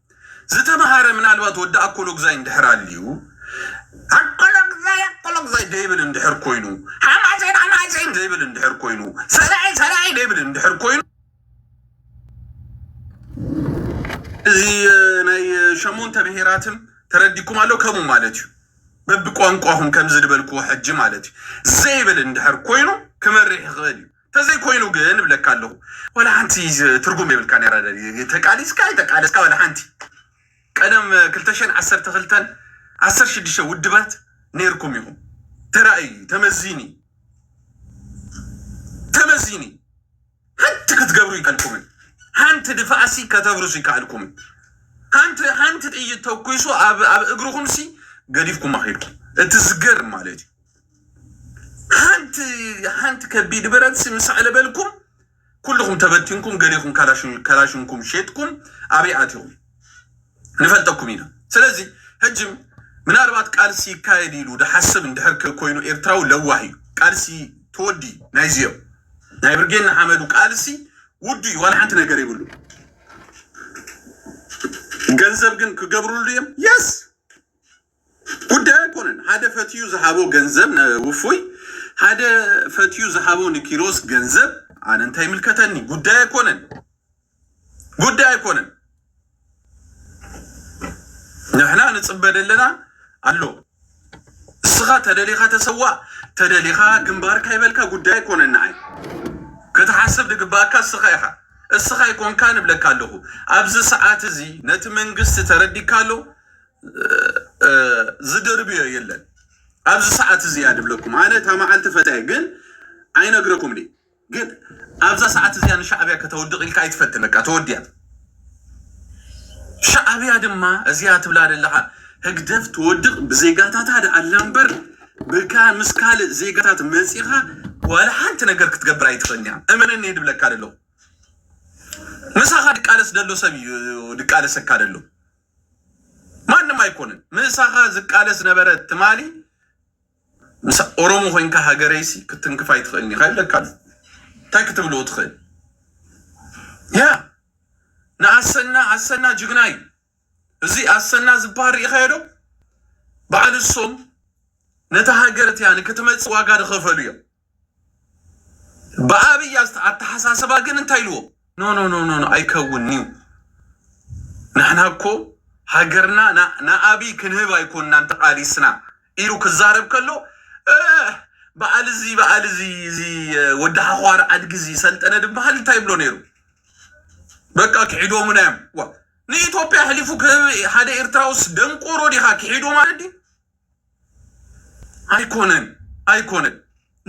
ዝተመሃረ ምናልባት ወዲ ኣኮሎጉዛይ እንድሕር ኣልዩ ኣኮሎጉዛይ ኣኮሎጉዛይ ደይብል እንድሕር ኮይኑ ሓማሴን ሓማሴን ዘይብል እንድሕር ኮይኑ ሰላዒ ሰላዒ ደይብል እንድሕር ኮይኑ እዚ ናይ ሸሞንተ ብሄራትን ተረዲኩም ኣሎ ከምኡ ማለት እዩ በቢ ቋንቋኹም ከምዚ ዝበልክዎ ሕጂ ማለት እዩ ዘይብል እንድሕር ኮይኑ ክመርሕ ይኽእል እዩ። ተዘይ ኮይኑ ግን እብለካ ኣለኩ ዋላ ሓንቲ ትርጉም የብልካን ያራዳ ድዩ ተቃሊስካ ኣይተቃለስካ ዋላ ሓንቲ ቀደም ክልተ ሽሕን ዓሰርተ ክልተን ዓሰርተ ሽዱሽተ ውድባት ነይርኩም ኢኹም ተራእዩ እዩ ተመዚኑ እዩ ተመዚኑ እዩ ሓንቲ ክትገብሩ ይከልኩምን ሓንቲ ድፋዕሲ ከተብርሱ ይከኣልኩምን ሓንቲ ሓንቲ ጥይት ተኩሱ ኣብ ኣብ እግርኹምሲ ገዲፍኩም ኣኺድኩም እቲ ዝገርም ማለት እዩ ሓንቲ ሓንቲ ከቢድ ብረትሲ ምስ ኣዕለበልኩም ኩልኹም ተበቲንኩም ገሊኹም ካላሽን ካላሽንኩም ሼጥኩም ኣበይ ኣቲኹም ንፈልጠኩም ኢና ስለዚ ሕጂ ምናልባት ቃልሲ ይካየድ ኢሉ ድሓስብ እንድሕር ከ ኮይኑ ኤርትራዊ ለዋህ እዩ ቃልሲ ተወዲ ናይዚ እዮም ናይ ብርጌድ ንሓመዱ ቃልሲ ውዱ እዩ ዋላ ሓንቲ ነገር ይብሉ ገንዘብ ግን ክገብርሉ እዮም የስ ጉዳዩ ኣይኮነን ሃደ ፈትዩ ዝሃቦ ገንዘብ ን ውፉይ ሃደ ፈትዩ ዝሃቦ ን ኪሮስ ገንዘብ ኣነ እንታይ ይምልከተኒ ጉዳይ ኣይኮነን ጉዳይ ኣይኮነን ንሕና ንጽበ ደለና ኣሎ እስኻ ተደሊኻ ተሰዋእ ተደሊኻ ግንባርካ ይበልካ ጉዳይ ኣይኮነን ንዓይ ክትሓስብ ድግባኣካ እስኻ ኢኻ እስኻ ኣይኮንካ ንብለካ ኣለኹ ኣብዚ ሰዓት እዚ ነቲ መንግስቲ ተረዲካ ኣሎ ዝድርብዮ የለን ኣብዚ ሰዓት እዚ እያ ድብለኩም ኣነ እታ መዓልቲ ፈታየ ግን ኣይነግረኩምኒ ግን ኣብዛ ሰዓት እዚኣ ንሻዕብያ ከተወድቕ ኢልካ ኣይትፈትን በቃ ተወዲያ ሻዕብያ ድማ እዚኣ ትብላ ዘለኻ ህግደፍ ትወድቕ ብዜጋታታ ደኣላ እምበር ብካ ምስ ካልእ ዜጋታት መፂኻ ዋላ ሓንቲ ነገር ክትገብር ኣይትኽእልን እያ እመነኒ እየ ድብለካ ደለኹ ምሳኻ ድቃለስ ደሎ ሰብ እዩ ድቃለሰካ ደሎ ማንም ኣይኮነን ምእሳካ ዝቃለስ ዝነበረ ትማሊ ምስ ኦሮሞ ኮይንካ ሃገረይሲ ክትንክፍ ኣይትክእልን ኢካ ይብለካ ኣሎ እንታይ ክትብልዎ ትክእል ያ ንኣሰና ኣሰና ጅግና እዩ እዚ ኣሰና ዝበሃል ርኢካዮ ዶ በዓል እሶም ነታ ሃገር እቲያ ንክትመጽእ ዋጋ ዝኸፈሉ እዮም ብኣብይ ኣስተ- ኣተሓሳስባ ግን እንታይ ኢልዎ ኖ ኖ ኖ ኖ ኖ፣ ኣይከውን እዩ ንሕና እኮ ሃገርና ና- ንኣብይ ክንህብ ኣይኮንናን ተቃሊስና ኢሉ ክዛረብ ከሎ እ፣ በዓል እዚ በዓል እዚ እዚ ወዲ ሓዃር ዓድጊ እዚ ሰልጠነ ድበሃል እንታይ ይብሎ ነይሩ በቃ ክሒዶሙና እዮም ዋ ንኢትዮጵያ ኣሕሊፉ ክህብ ሓደ ኤርትራውስ ደንቆሮ ዲኻ ክሒዶ ማለት ድዩ ኣይኮነን ኣይኮነን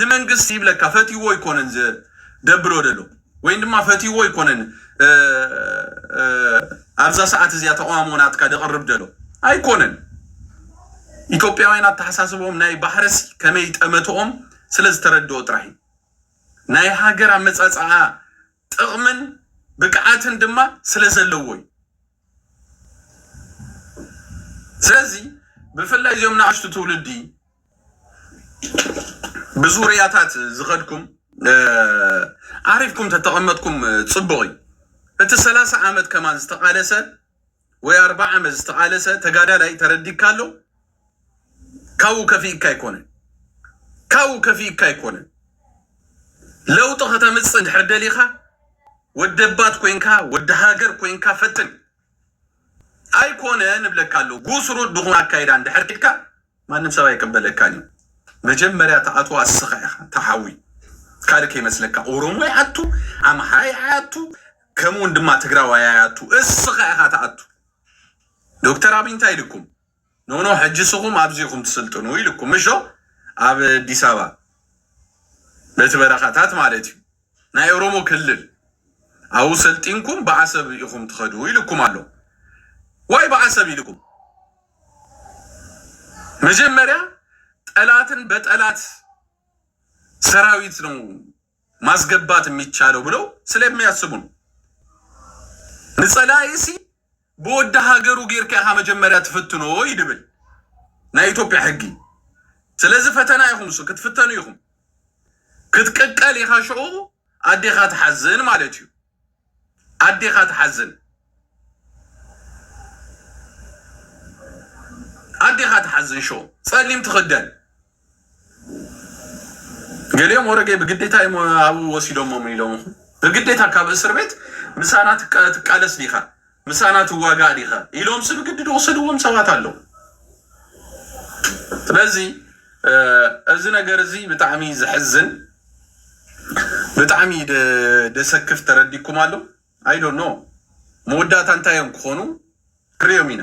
ንመንግስቲ ይብለካ ፈትይዎ ኣይኮነን ዝገብሮ ደሎ ወይም ድማ ፈትይዎ ኣይኮነን ኣብዛ ሰዓት እዚኣ ተቃውሞ ናትካ ደቕርብ ደሎ ኣይኮነን። ኢትዮጵያውያን ኣተሓሳስቦም ናይ ባሕርሲ ከመይ ጠመትኦም ስለ ዝተረድኦ ጥራሕ እዩ ናይ ሃገር ኣመፃፅኣ ጥቕምን ብቅዓትን ድማ ስለ ዘለዎ እዩ። ስለዚ ብፍላይ እዚኦም ንኣሽቱ ትውልዲ ብዙርያታት ዝኸድኩም ዓሪፍኩም ተተቐመጥኩም ጽቡቕ እዩ። እቲ ሰላሳ ዓመት ከማን ዝተቓለሰ ወይ ኣርብዓ ዓመት ዝተቃለሰ ተጋዳላይ ተረዲካ ኣሎ ካብኡ ከፊእካ ኣይኮነን ካብኡ ከፊእካ ኣይኮነን ለውጢ ከተምፅእ እንድሕር ደሊካ ወደባት ኮንካ ወዲ ሃገር ኮንካ ፈትን ኣይኮነ ንብለካ ኣሎ ጉስሩ ድኹም ኣካይዳ እንድሕር ኪድካ ማንም ሰብ ኣይቅበለካን እዩ መጀመርያ ትኣትዎ ኣስኻ ኢኻ ታሓዊ ካልእ ከይመስለካ ኦሮሞ ይኣቱ ኣምሓራይ ኣይኣቱ ከምውን ድማ ትግራዋይ ኣይኣቱ እስኻ ኢኻ ትኣቱ ዶክተር ኣብይ እንታይ ኢልኩም ኖኖ ሕጂ ስኹም ኣብዚ ኢኹም ትስልጥኑ ኢልኩም ምሾ ኣብ ኣዲስ ኣበባ በቲ በረኻታት ማለት እዩ ናይ ኦሮሞ ክልል ኣብኡ ሰልጢንኩም ብዓሰብ ኢኹም ትኸዱ ኢልኩም ኣሎ ዋይ ብዓሰብ ኢልኩም መጀመሪያ ጠላትን በጠላት ሰራዊት ነው ማስገባት የሚቻለው ብለው ስለሚያስቡ ነው። ንጸላኢሲ ብወዲ ሃገሩ ጌርካ ኢኻ መጀመሪያ ትፍትኖ ይድብል ናይ ኢትዮጵያ ሕጊ። ስለዚ ፈተና ኢኹም እሱ ክትፍተኑ ኢኹም ክትቅቀል ኢኻ ሽዑ ኣዴኻ ትሓዝን ማለት እዩ። ኣዴኻ ትሓዝን ኣዴኻ ትሓዝን ሾው ጸሊም ትኽደን ገሊኦም ወረገ ብግዴታ እዮም ኣብኡ ወሲዶሞም ኢሎምኹም ብግዴታ ካብ እስር ቤት ምሳና ትቃለስ ዲኻ ምሳና ትዋጋእ ዲኻ ኢሎምሲ ብግዲ ዝወሰድዎም ሰባት ኣለው። ስለዚ እዚ ነገር እዚ ብጣዕሚ ዘሕዝን ብጣዕሚ ደሰክፍ ተረዲኩም ኣሎ ኣይ ዶንት ኖው መወዳእታ እንታይ እዮም ክኾኑ ክንሪኦም ኢና።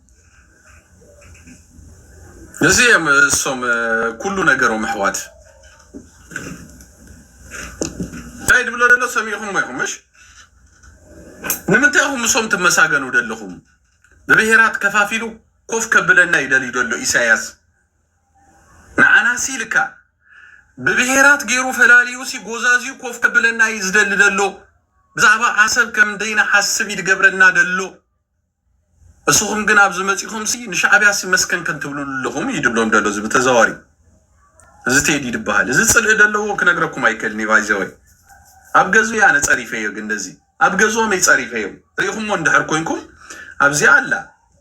እዚ እዮም እሶም እ፣ ኩሉ ነገሮም ኣሕዋት እንታይ ድብሎ ደሎ ሰሚዕኹሞ ኢኹም ምሽ ንምንታይ ኢኹም እሶም ትመሳገኑ ደለኹም ብብሄራት ከፋፊሉ ኮፍ ከብለና እዩ ደልዩ ደሎ ኢሳያስ ንዓናሲ ኢልካ ብብሄራት ገይሩ ፈላልዩ ሲ ጎዛዝዩ ኮፍ ከብለና እዩ ዝደሊ ደሎ ብዛዕባ ዓሰብ ከም ደይንሓስብ እዩ ድገብረና ደሎ እስኹም ግን ኣብዚ መጺኹምሲ ንሻዕብያሲ መስከን ከንትብልሉ ኣለኹም እዩ ድብሎም ደሎ እዚ ብተዘዋዋሪ እዚ ቴዲ ድበሃል እዚ ጽልኢ ደለዎ ክነግረኩም ኣይክእልን እዩ ባይዘወይ ኣብ ገዙ ያነ ጸሪፈዮ ግን እንደዚ ኣብ ገዝኦም እይ ጸሪፈዮ ሪኢኹሞ እንድሕር ኮንኩም ኣብዚኣ ኣላ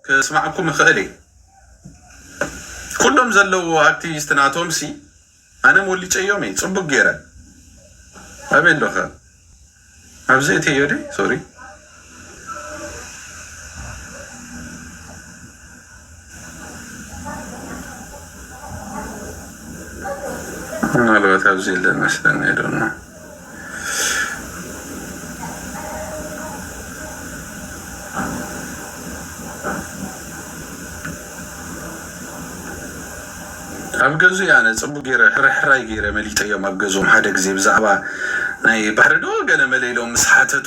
ክስማዓኩም ይኽእል እየ ኩሎም ዘለዎ ኣክቲቪስት ናቶምሲ ኣነ ሞሊጨዮም እየ ፅቡቅ ገይረ ኣበይ ኣለካ ኣብዚ እተዮ ድየ ሶሪ። ምናልባት ኣብዚ የለን መስለኒ ኣይዶኖ። ኣብ ገዙይ ኣነ ጽቡቅ ገይረ ሕርሕራይ ገይረ መሊጠዮም ኣብ ገዝኦም ሓደ ግዜ ብዛዕባ ናይ ባህሪ ዶ ገለ መለ ኢሎም ምስ ሓተቱ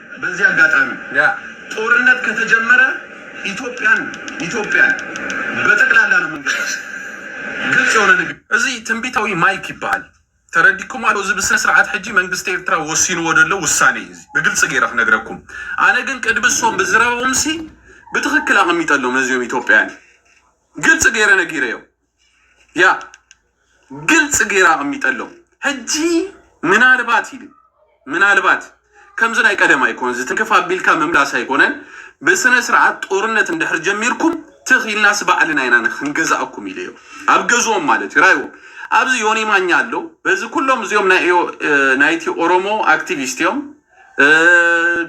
በዚ ኣጋጣሚ ጦርነት ከተጀመረ ኢትዮጵያን ኢትዮጵያን በጠቅላላ ነው ምንገዛት ግልጽ የሆነ ንግ። እዚ ትንቢታዊ ማይክ ይበሃል ተረዲኩማ ዶ እዚ ብስነስርዓት ሕጂ መንግስቲ ኤርትራ ወሲንዎ ደሎ ውሳኔ እዩ እዚ ብግልጺ ገይረ ክነግረኩም ኣነ ግን ቅድሚ እሶም ብዝረበኦምሲ ብትክክል ኣቀሚጠሎም ነዚኦም ኢትዮጵያን ግልጺ ገይረ ነጊረዮም ያ ግልጽ ገይራ ኣቐሚጠሎም ሕጂ ምናልባት ኢሉ ምናልባት ከምዚ ናይ ቀደም ኣይኮን ዝትንክፍ ኣቢልካ ምምላስ ኣይኮነን ብስነ ስርዓት ጦርነት እንድሕር ጀሚርኩም ትኽ ኢልናስ ባዕልና ኢና ክንገዛእኩም ኢሉ እዩ ኣብ ገዝኦም ማለት እዩ ራይዎም ኣብዚ ዮኒ ማኛ ኣሎ በዚ ኩሎም እዚኦም ናይ እዮ- እ፣ ናይቲ ኦሮሞ ኣክቲቪስት እዮም እ፣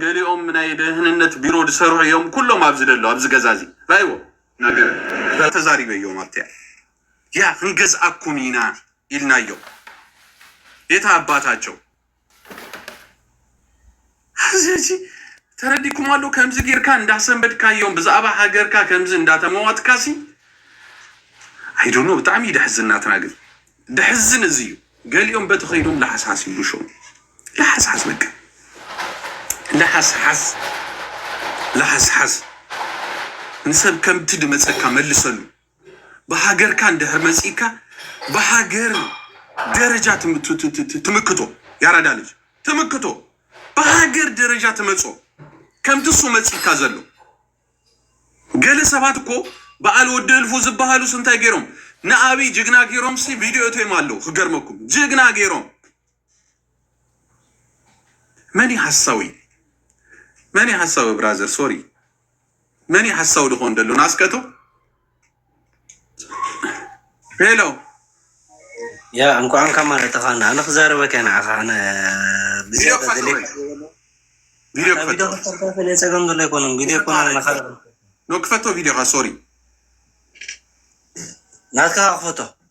ገሊኦም ናይ ደህንነት ቢሮ ዝሰርሑ እዮም ኩሎም ኣብዚ ደሎ ኣብዚ ገዛ እዚ ራይዎም ነገር ተዛሪበዮ ማለተይ ዲያ ክንገዝኣኩም ኢና ኢልናዮ ቤት ኣባታቸው ኣዚ ተረዲኩም ኣሎ ከምዚ ጌርካ እንዳሰንበድካዮም ብዛዕባ ሃገርካ ከምዚ እንዳተመዋትካሲ ኣይዶኖ ብጣዕሚ ደሕዝን ናትና ግን ደሕዝን እዚ እዩ ገሊኦም በቲ ከይዶም ላሓሳስ ይብሉ ሸው ላሓስሓስ በቃ ላሓስሓስ ላሓስሓስ ንሰብ ከምቲ ድመጸካ መልሰሉ ብሃገርካ እንድሕር መጺእካ ብሃገር ደረጃ ትምክቶ ያራዳ ልጅ ትምክቶ ብሃገር ደረጃ ትመጾ ከምቲ እሱ መጺእካ ዘሎ ገለ ሰባት እኮ በዓል ወዲ እልፉ ዝበሃሉስ እንታይ ገይሮም ንኣብይ ጅግና ገይሮምሲ ቪድዮ እትዮም ኣለዉ ክገርመኩም ጅግና ገይሮም መን እዩ ሓሳዊ መን እዩ ሓሳዊ ብራዘር ሶሪ መን እዩ ሓሳዊ ድኾን ደሎ ናስቀቶ ሄሎ ያ እንኳን ካብ ማለት ተኻና ኣነ ክዛረበካ ንዓኻ ኣነ ቪድዮ ፀገም ዘሎ ኣይኮነን ቪድዮ ክፈቶ ቪድዮኻ ሶሪ ናትካ ክፈቶ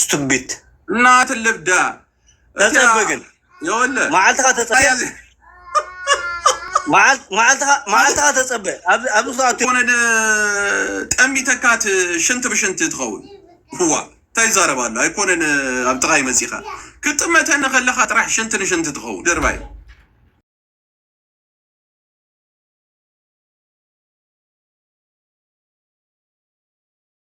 ስቱቢት እናት ልብዳ ተጸበ ግን መዓልትኻ ተጸበ መዓልትኻ ተጸበ ኣብዚ ሰዓት ሆነ ጠሚተካት ሽንቲ ብሽንቲ ትኸውን ዋ እንታይ ይዛረብ ኣሎ ኣይኮነን ኣብ ጥቓይ መጺኻ ክትጥመተኒ ከለኻ ጥራሕ ሽንቲ ንሽንቲ ትኸውን ድርባይ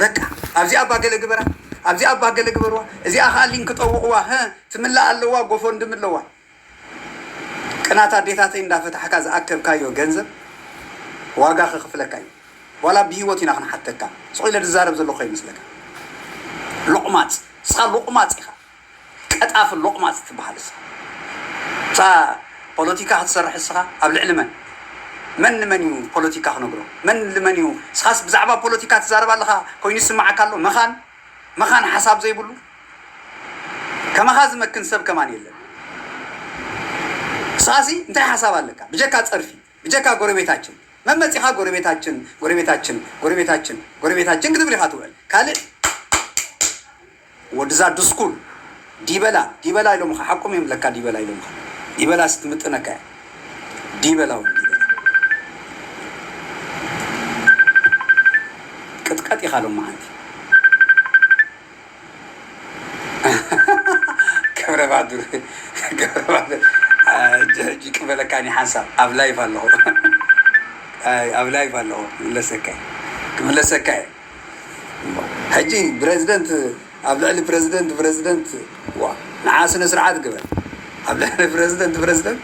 በቃ ኣብዚኣ እባ ገለ ግበራ፣ ኣብዚኣ እባ ገለ ግበርዋ፣ እዚኣ ከኣ ሊንክ ጠውቕዋ፣ ህ ትምላእ ኣለዋ፣ ጎፎንድሚ ኣለዋ። ቅናት ኣዴታተይ እንዳፈታሕካ ዝኣከብካዮ ገንዘብ ዋጋ ከኽፍለካ እዩ። ዋላ ብሂወት ኢና ክንሓተካ። ስቕ ኢለ ዝዛረብ ዘለኹ ከይመስለካ። ሎቕማጽ። ንስኻ ሎቕማጽ ኢኻ። ቀጣፊ ሎቅማጽ ትብሃል እሳ እሳ ፖሎቲካ ክትሰርሕ እስኻ ኣብ ልዕሊ መን መን ንመን እዩ ፖሎቲካ ክነግሮ መን ንል መን እዩ እስኻስ ብዛዕባ ፖሎቲካ ትዛረብ ኣለኻ ኮይኑ ይስምዓካ ኣሎ መኻን መኻን ሓሳብ ዘይብሉ ከማኻ ዝመክን ሰብ ከማን የለን እስኻሲ እንታይ ሓሳብ ኣለካ ብጀካ ጸርፊ ብጀካ ጎረቤታችን መን መጺኻ ጎረቤታችን ጎረቤታችን ጎረቤታችን ጎረቤታችን ክትብል ኢኻ ትውዕል ካልእ ወድዛ ድስኩል ዲበላ ዲበላ ኢሎምኻ ሓቆም እዮም ለካ ዲበላ ኢሎምኻ ዲበላስ ትምጥነካ እያ ዲበላ ወዲ ዲበላ ቅጥቀጥ ኢኻ ሎማዓንቲ ገብረባዱር ገብረባዱር ሕጂ ቅበለካ ኒ ሓንሳብ ኣብ ላይፍ ኣለኹ ኣብ ላይፍ ኣለኹ ክምለሰካ ክምለሰካ እየ እሞ ሕጂ ብረዝደንት ኣብ ልዕሊ ፕረዝደንት ፕረዝደንት ዋ ንዓ ስነ ስርዓት ግበር ኣብ ልዕሊ ፕረዝደንት ፕረዝደንት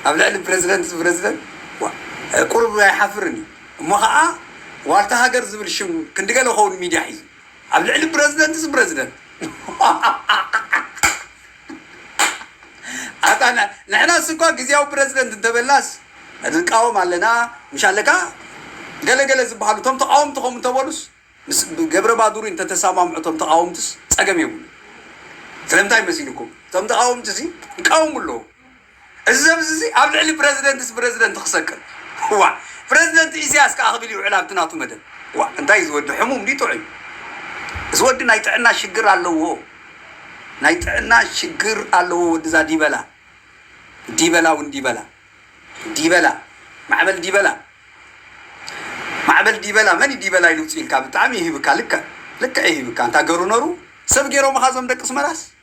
ኣብ ልዕሊ ፕረዝደንት ፕረዝደንት ዋ ቁሩብ ኣይሓፍርን እዩ እሞ ኸኣ ዋልታ ሃገር ዝብል ሽም ክንዲ ገለ ኸውን ሚድያ ሒዙ ኣብ ልዕሊ ፕረዝደንትስ ፕረዝደንት ኣታ ንሕናስ እኳ ግዝያዊ ፕረዚደንት እንተበልናስ ንቃወም ኣለና ምሽ ኣለካ ገለ ገለ ዝብሃሉ እቶም ተቓወምቲ ከምኡ እንተበሉስ ምስ ገብረባዱሪ እንተተሳማምዑ እቶም ተቓወምትስ ጸገም የብሉን ስለምንታይ መሲልኩም እቶም ተቓወምቲሲ ይቃወሙ ኣለዉ እዚ ሰብዚ'ዚ ኣብ ልዕሊ ፕረዚደንትስ ፕረዚደንት ክሰቅል ዋእ ፕረዚደንት ኢሰያስ ከኣ ክብል ይውዕል ኣብቲ ናቱ መደብ ዋእ እንታይ እዚ ወዲ ሕሙም ድዩ ጥዑይ እዚ ወዲ ናይ ጥዕና ሽግር ኣለዎ ናይ ጥዕና ሽግር ኣለዎ ወድዛ ዲበላ ዲበላ ውን ዲበላ ዲበላ ማዕበል ዲበላ ማዕበል ዲበላ መን ዲበላ ኢሉ ውጽኢልካ ብጣዕሚ ይህብካ ልክዕ ልክዕ ይህብካ እንታ ገሩ ነሩ ሰብ ገሮምኻ ዞም ደቂ ስመራስ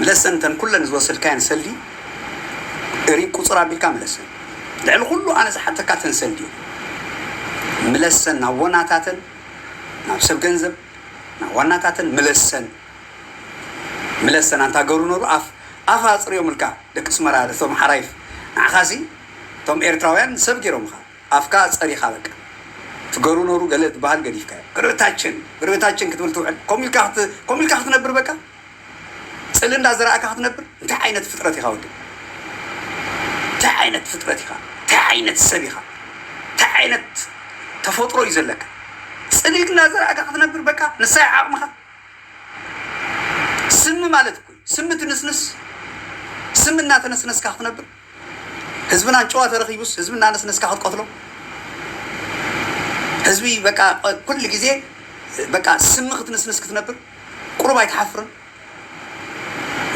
ምለሰን እተን ኩለን ዝወሰድካየን ሰልዲ እርይ ቁፅር ኣቢልካ ምለሰን ልዕሊ ኩሉ ኣነ ዝሓተካ እተን ሰልዲ እየን ምለሰን ናብ ወናታተን ናብ ሰብ ገንዘብ ናብ ዋናታተን ምለሰን ምለሰን ኣንታ ገሩ ነሩ ኣፍ ኣፍ ኣፅርዮምልካ ደቂ ስመራ እቶም ሓራይፍ ንዓኻሲ እቶም ኤርትራውያን ሰብ ገይሮምኻ ኣፍካ ኣጸሪኻ በቃ ትገሩ ነሩ ገለ ዝባሃል ገዲፍካዮ ብርታችን ብርታችን ክትብል ትውዕል ከምኡ ኢልካ ከምኡ ኢልካ ክትነብር በቃ ጽልኢ እንዳ ዘራእካ ክትነብር እንታይ ዓይነት ፍጥረት ኢኻ ወዲ እንታይ ዓይነት ፍጥረት ኢኻ እንታይ ዓይነት ሰብ ኢኻ እንታይ ዓይነት ተፈጥሮ እዩ ዘለካ ጽልኢ እንዳ ዘራእካ ክትነብር በቃ ንሳይ ዓቕምኻ ስሚ ማለት እኮ ስሚ ትንስንስ ስሚ እናተነስነስካ ክትነብር ህዝብና ጭዋ ተረኪቡስ ህዝቢ እናነስነስካ ክትቀትሎ ህዝቢ በቃ ኩሉ ግዜ በቃ ስሚ ክትንስንስ ክትነብር ቁሩብ ኣይትሓፍርን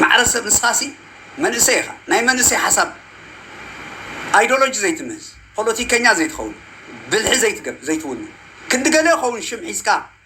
ማዕረ ሰብ ንስኻሲ መንእሰይ ኢኻ ናይ መንእሰይ ሓሳብ ኣይዶሎጂ ዘይትምህዝ ፖለቲከኛ ዘይትኸውን ብልሒ ዘይትገብ ዘይትውንን ክንዲ ገለ ይኸውን ሽም ሒዝካ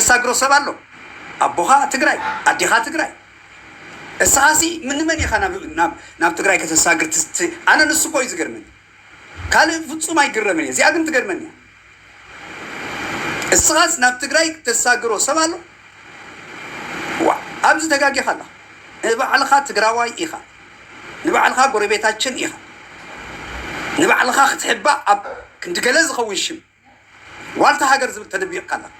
እሳግሮ ሰብ ኣሎ ኣቦኻ ትግራይ ኣዴኻ ትግራይ እስኻሲ ምንመን ኢኻ ናብ ትግራይ ከተሳግር ትስቲ ኣነ ንሱ እኮ እዩ ዝገርመኒ ካልእ ፍፁም ኣይግረምን እየ እዚኣ ግን ትገርመኒ እያ እስኻስ ናብ ትግራይ ተሳግሮ ሰብ ኣሎ ዋ ኣብዚ ተጋጊኻ ኣላ ንባዕልኻ ትግራዋይ ኢኻ ንባዕልኻ ጎረቤታችን ኢኻ ንባዕልኻ ክትሕባእ ኣብ ክንዲ ገለ ዝኸውን ሽም ዋልታ ሃገር ዝብል ተደቢቕካ ኣለኻ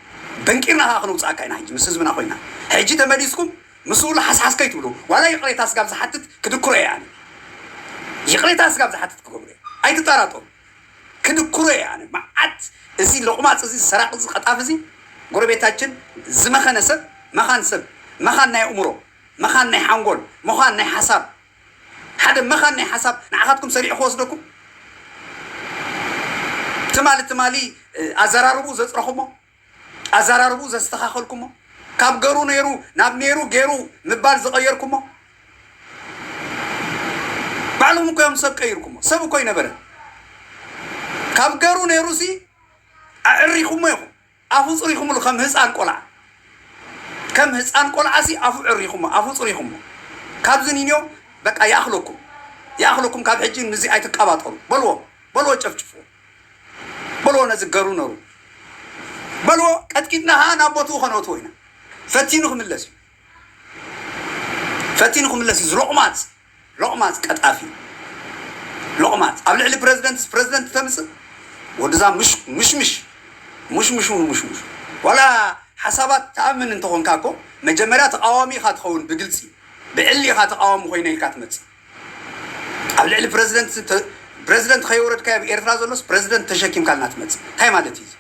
በንቂርና ከኣ ክነውጽኣካ ኢና ሕጂ ምስ ህዝብና ኮይና ሕጂ ተመሊስኩም ምስኡ ላሓስሓስ ከይትብሉ ዋላ ይቕሬታ ስጋብ ዝሓትት ክድኩሮ እየ ኣነ ይቕሬታ ስጋብ ዝሓትት ክገብሮ እየ ኣይትጠራጠሩ ክድኩሮ እየ ኣነ መዓት እዚ ሎቕማጽ እዚ ሰራቂ እዚ ቀጣፍ እዚ ጎረቤታችን ዝመኸነ ሰብ መኻን ሰብ መኻን ናይ ኣእምሮ መኻን ናይ ሓንጎል መኻን ናይ ሓሳብ ሓደ መኻን ናይ ሓሳብ ንዓኻትኩም ሰሪዑ ክወስደኩም ትማሊ ትማሊ ኣዘራርብኡ ዘጽረኹሞ ኣዘራርብኡ ዘስተኻኸልኩሞ ካብ ገሩ ነይሩ ናብ ነይሩ ገሩ ምባል ዝቐየርኩሞ ባዕሎም እኮ እዮም ሰብ ቀይርኩሞ ሰብ እኮ ኣይነበረን ካብ ገሩ ነይሩሲ ኣዕሪኹሞ ኢኹም ኣፉ ጽሪኩሙሉ ከም ህጻን ቆልዓ ከም ህጻን ቆልዓ ሲ ኣፉ ዕሪኩሞ ኣፉ ጽሪኩሞ ካብዚ ኒንዮ በቃ ይኣክለኩም ይኣክለኩም ካብ ሕጂ ንዚ ኣይትቃባጠሩ በልዎ በልዎ ጨፍጭፍዎ በልዎ ነዚ ገሩ ነሩ በልዎ ቀጥቂጥና ከኣ ናብ ቦትኡ ከነእትዎ ኢና ፈቲኑ ክምለስ እዩ ፈቲኑ ክምለስ እዩ ዝሎቅማጽ ሎቕማጽ ቀጣፊ ሎቕማጽ ኣብ ልዕሊ ፕረዚደንትስ ፕረዚደንት ተምጽእ ወድዛ ሙሽሙሽ ሙሽሙሹ ንሙሽሙሹ ዋላ ሓሳባት ትኣምን እንተኾንካ እኮ መጀመርያ ተቓዋሚ ኢኻ ትኸውን ብግልጺ ብዕሊ ኢኻ ተቓዋሚ ኮይነ ኢልካ ትመጽእ ኣብ ልዕሊ ፕረዚደንት ፕረዚደንት ከየውረድካዮ ኣብ ኤርትራ ዘሎስ ፕረዚደንት ተሸኪምካልና ትመጽእ እንታይ ማለት እዩ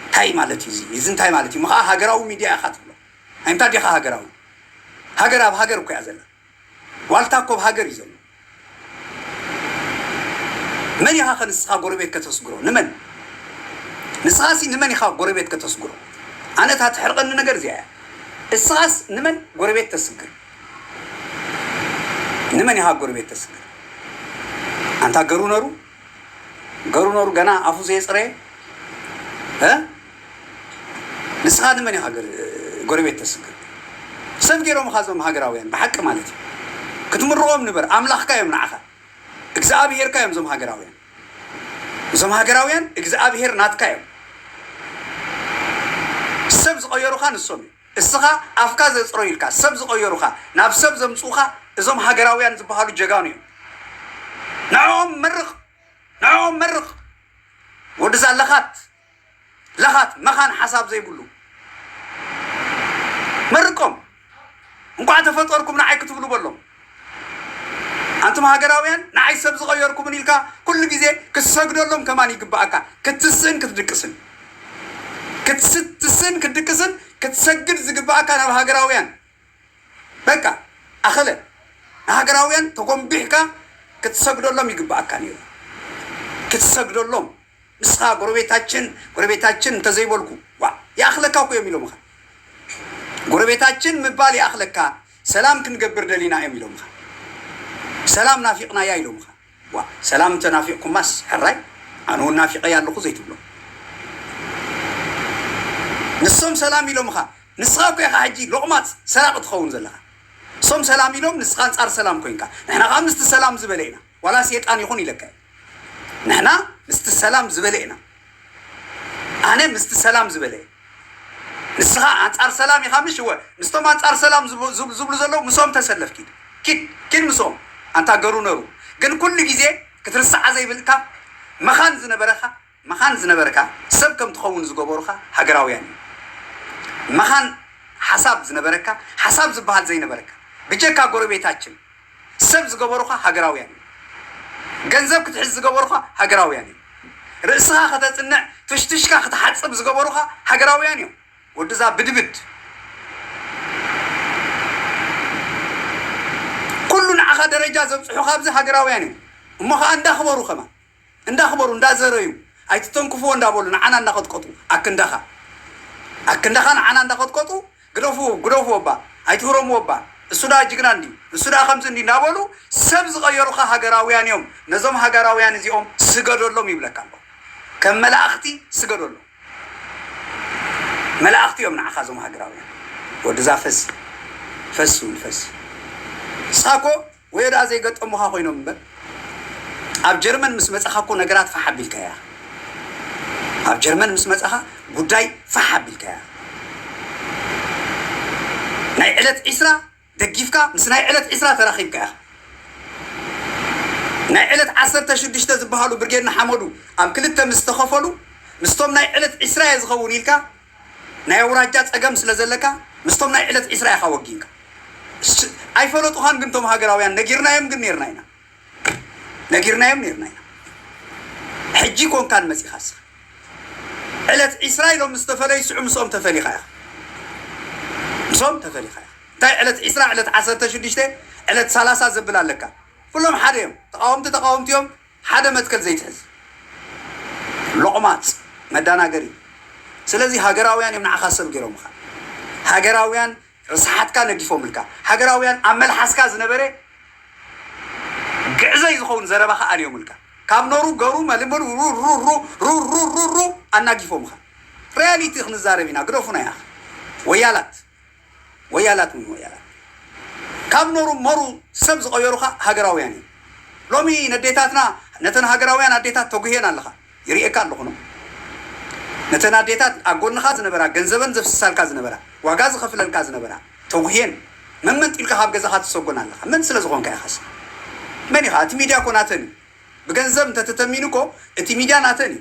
እንታይ ማለት እዩ እዚ እንታይ ማለት እዩ ምኸኣ ሃገራዊ ሚድያ ኢኻ ትብሎ ኣይ እንታይ ዲኻ ሃገራዊ ሃገር ኣብ ሃገር እኮ እያ ዘላ ዋልታ እኮ ኣብ ሃገር እዩ ዘሎ መን ኢኻከ ንስኻ ጎረቤት ከተስግሮ ንመን ንስኻሲ ንመን ኢኻ ጎረቤት ከተስግሮ ኣነ እታ ትሕርቐኒ ነገር እዚኣ እያ እስኻስ ንመን ጎረቤት ተስግር ንመን ኢኻ ጎረቤት ተስግር ኣንታ ገሩ ነሩ ገሩ ነሩ ገና ኣፉ ዘየጽረየ እ ንስኻ ንመን ኢኻ ገር- ጎረቤት ተስግር ሰብ ገይሮምኻ እዞም ሃገራውያን ብሓቂ ማለት እዩ ክትምርቖም ንበር ኣምላኽካ እዮም ንዓኻ እግዚኣብሄርካ እዮም እዞም ሃገራውያን እዞም ሃገራውያን እግዚኣብሄር ናትካ እዮም ሰብ ዝቐየሩኻ ንሶም እዮም እስኻ ኣፍካ ዘጽረዩ ኢልካ ሰብ ዝቐየሩኻ ናብ ሰብ ዘምጽኡኻ እዞም ሃገራውያን ዝበሃሉ ጀጋኑ እዮም ንዕኦም መርቕ ንዕኦም መርቕ ወድዛ ለኻት ለኻት መኻን ሓሳብ ዘይብሉ መርቆም እንቋዕ ተፈጠርኩም ንዓይ ክትብሉ በሎም ኣንቱም ሃገራውያን ንዓይ ሰብ ዝቐየርኩምን ኢልካ ኩሉ ግዜ ክትሰግደሎም ከማን ይግበኣካ ክትስእን ክትድቅስን ክትስእን ክትድቅስን ክትሰግድ ዝግበኣካ ናብ ሃገራውያን በቃ ኣኸለ ንሃገራውያን ተጎምቢሕካ ክትሰግደሎም ይግበኣካ ነይሩ ክትሰግደሎም ንስኻ ጎረቤታችን ጎረቤታችን እንተዘይበልኩ ዋእ ይኣኽለካ እኮ እዮም ኢሎምኻ ጎረቤታችን ምባል ይኣኽለካ ሰላም ክንገብር ደሊና እዮም ኢሎምኻ ሰላም ናፊቕናያ ኢሎምኻ ዋእ ሰላም እንተናፊቕኩማስ ሕራይ ኣነ እውን ናፊቐያ ኣለኹ ዘይትብሎም ንሶም ሰላም ኢሎምኻ ንስኻ እኮ ኢኻ ሕጂ ሎቕማጽ ሰራቒ ትኸውን ዘለኻ እሶም ሰላም ኢሎም ንስኻ ኣንጻር ሰላም ኮይንካ ንሕና ከዓ ምስቲ ሰላም ዝበለ ኢና ዋላ ሴጣን ይኹን ኢለካ እየ ንሕና ምስቲ ሰላም ዝበለ ኢና ኣነ ምስቲ ሰላም ዝበለ እየ ንስኻ ኣንጻር ሰላም ኢኻ ምሽ እወ ምስቶም ኣንጻር ሰላም ዝብሉ ዘለዉ ምስኦም ተሰለፍ ኪድ ኪድ ኪድ ምስኦም ኣንታ ገሩ ነሩ ግን ኩሉ ግዜ ክትርስዓ ዘይብልካ መኻን ዝነበረኻ መኻን ዝነበርካ ሰብ ከም ትኸውን ዝገበሩኻ ሃገራውያን እዮም። መኻን ሓሳብ ዝነበረካ ሓሳብ ዝበሃል ዘይነበረካ ብጀካ ጎረቤታችን ሰብ ዝገበሩኻ ሃገራውያን እዮም። ገንዘብ ክትሕዝ ዝገበሩኻ ሃገራውያን እዮም። ርእስኻ ከተጽንዕ ፍሽትሽካ ክትሓጽብ ዝገበሩኻ ሃገራውያን እዮም። ወድዛ ብድብድ ኩሉ ንዓኻ ደረጃ ዘብጽሑኻ ኣብዚ ሃገራውያን እዮም። እሞ ኸኣ እንዳ ክበሩ ከማን እንዳኽበሩ እንዳዘረዩ ኣይትተንክፍዎ እንዳበሉ ንዓና እንዳቐጥቀጡ ኣክንዳኻ ኣክንዳኻ ንዓና እንዳቐጥቀጡ ግደፍዎ ግደፍዎ እባ ኣይትህረምዎ እባ እሱ ደኣ ጅግና እንድዩ እሱ ደኣ ከምዚ እንድዩ እንዳበሉ ሰብ ዝቐየሩኻ ሃገራውያን እዮም ነዞም ሃገራውያን እዚኦም ስገደሎም ይብለካ ኣለኹ ከም መላእኽቲ ስገደሎም መላእኽቲ እዮም ንዓኻ እዞም ሃገራውያን ወድዛ ፈሲ ፈሲ ውን ፈሲ ሳኮ ወዮ ደኣ ዘይገጠሙኻ ኮይኖም እምበር ኣብ ጀርመን ምስ መጻኻ እኮ ነገራት ፋሕ ኣቢልካያ ኢኻ ኣብ ጀርመን ምስ መጻኻ ጉዳይ ፋሕ ኣቢልካያ ናይ ዕለት ዒስራ ደጊፍካ ምስ ናይ ዕለት ዒስራ ተራኺብካ ኢኻ ናይ ዕለት ዓሰርተ ሽዱሽተ ዝበሃሉ ብርጌድ ንሓመዱ ኣብ ክልተ ምስ ተኸፈሉ ምስቶም ናይ ዕለት ዒስራ እየ ዝኸውን ኢልካ ናይ ኣውራጃ ጸገም ስለ ዘለካ ምስቶም ናይ ዕለት ዒስራ ኢኻ ወጊንካ እስ ኣይፈለጡኻን ግን ቶም ሃገራውያን ነጊርናዮም ግን ኔርና ኢና ነጊርናዮም ኔርና ኢና ሕጂ ኮንካን መጺኻ እስኻ ዕለት ዒስራ ኢሎም ምስ ተፈለዩ ስዑ ምስኦም ተፈሊኻ ኢኻ ምስኦም ተፈሊኻ ኢኻ እንታይ ዕለት ዒስራ ዕለት ዓሰርተ ሽዱሽተ ዕለት ሰላሳ ዘብል ኣለካ ኩሎም ሓደ እዮም ተቃወምቲ ተቃወምቲ እዮም ሓደ መትከል ዘይትሕዝ ሎቅማጽ መዳናገሪ ስለዚ ሃገራውያን እዮም ንዓኻ ሰብ ጌሮምኻ ሃገራውያን ርስሓትካ ነጊፎምልካ ሃገራውያን ኣብ መልሓስካ ዝነበረ ግዕዘይ ዝኸውን ዘረባኻ ኣልዮምልካ ካብ ኖሩ ገሩ መልምሉ ሩሩሩሩሩሩሩሩ ኣናጊፎምኻ ሪያሊቲ ክንዛረብ ኢና ግደፉና ያኽ ወያላት ወያላት ውን ወያላት ካብ ኖሩ መሩ ሰብ ዝቐየሩ ከኣ ሃገራውያን እዮም። ሎሚ ነዴታትና ነተን ሃገራውያን ኣዴታት ተጉህየን ኣለኻ ይርእየካ ኣለኹ ን ነተን ኣዴታት ኣብ ጎንኻ ዝነበራ ገንዘበን ዘፍስሳልካ ዝነበራ ዋጋ ዝኸፍለልካ ዝነበራ ተጉህየን መንመንጢልካ ካብ ገዛኻ ትሰጎን ኣለኻ መን ስለ ዝኾንካ ኢኻስ መን ኢኻ እቲ ሚድያ እኮ ናተን እዩ ብገንዘብ እንተተተሚኑ እኮ እቲ ሚድያ ናተን እዩ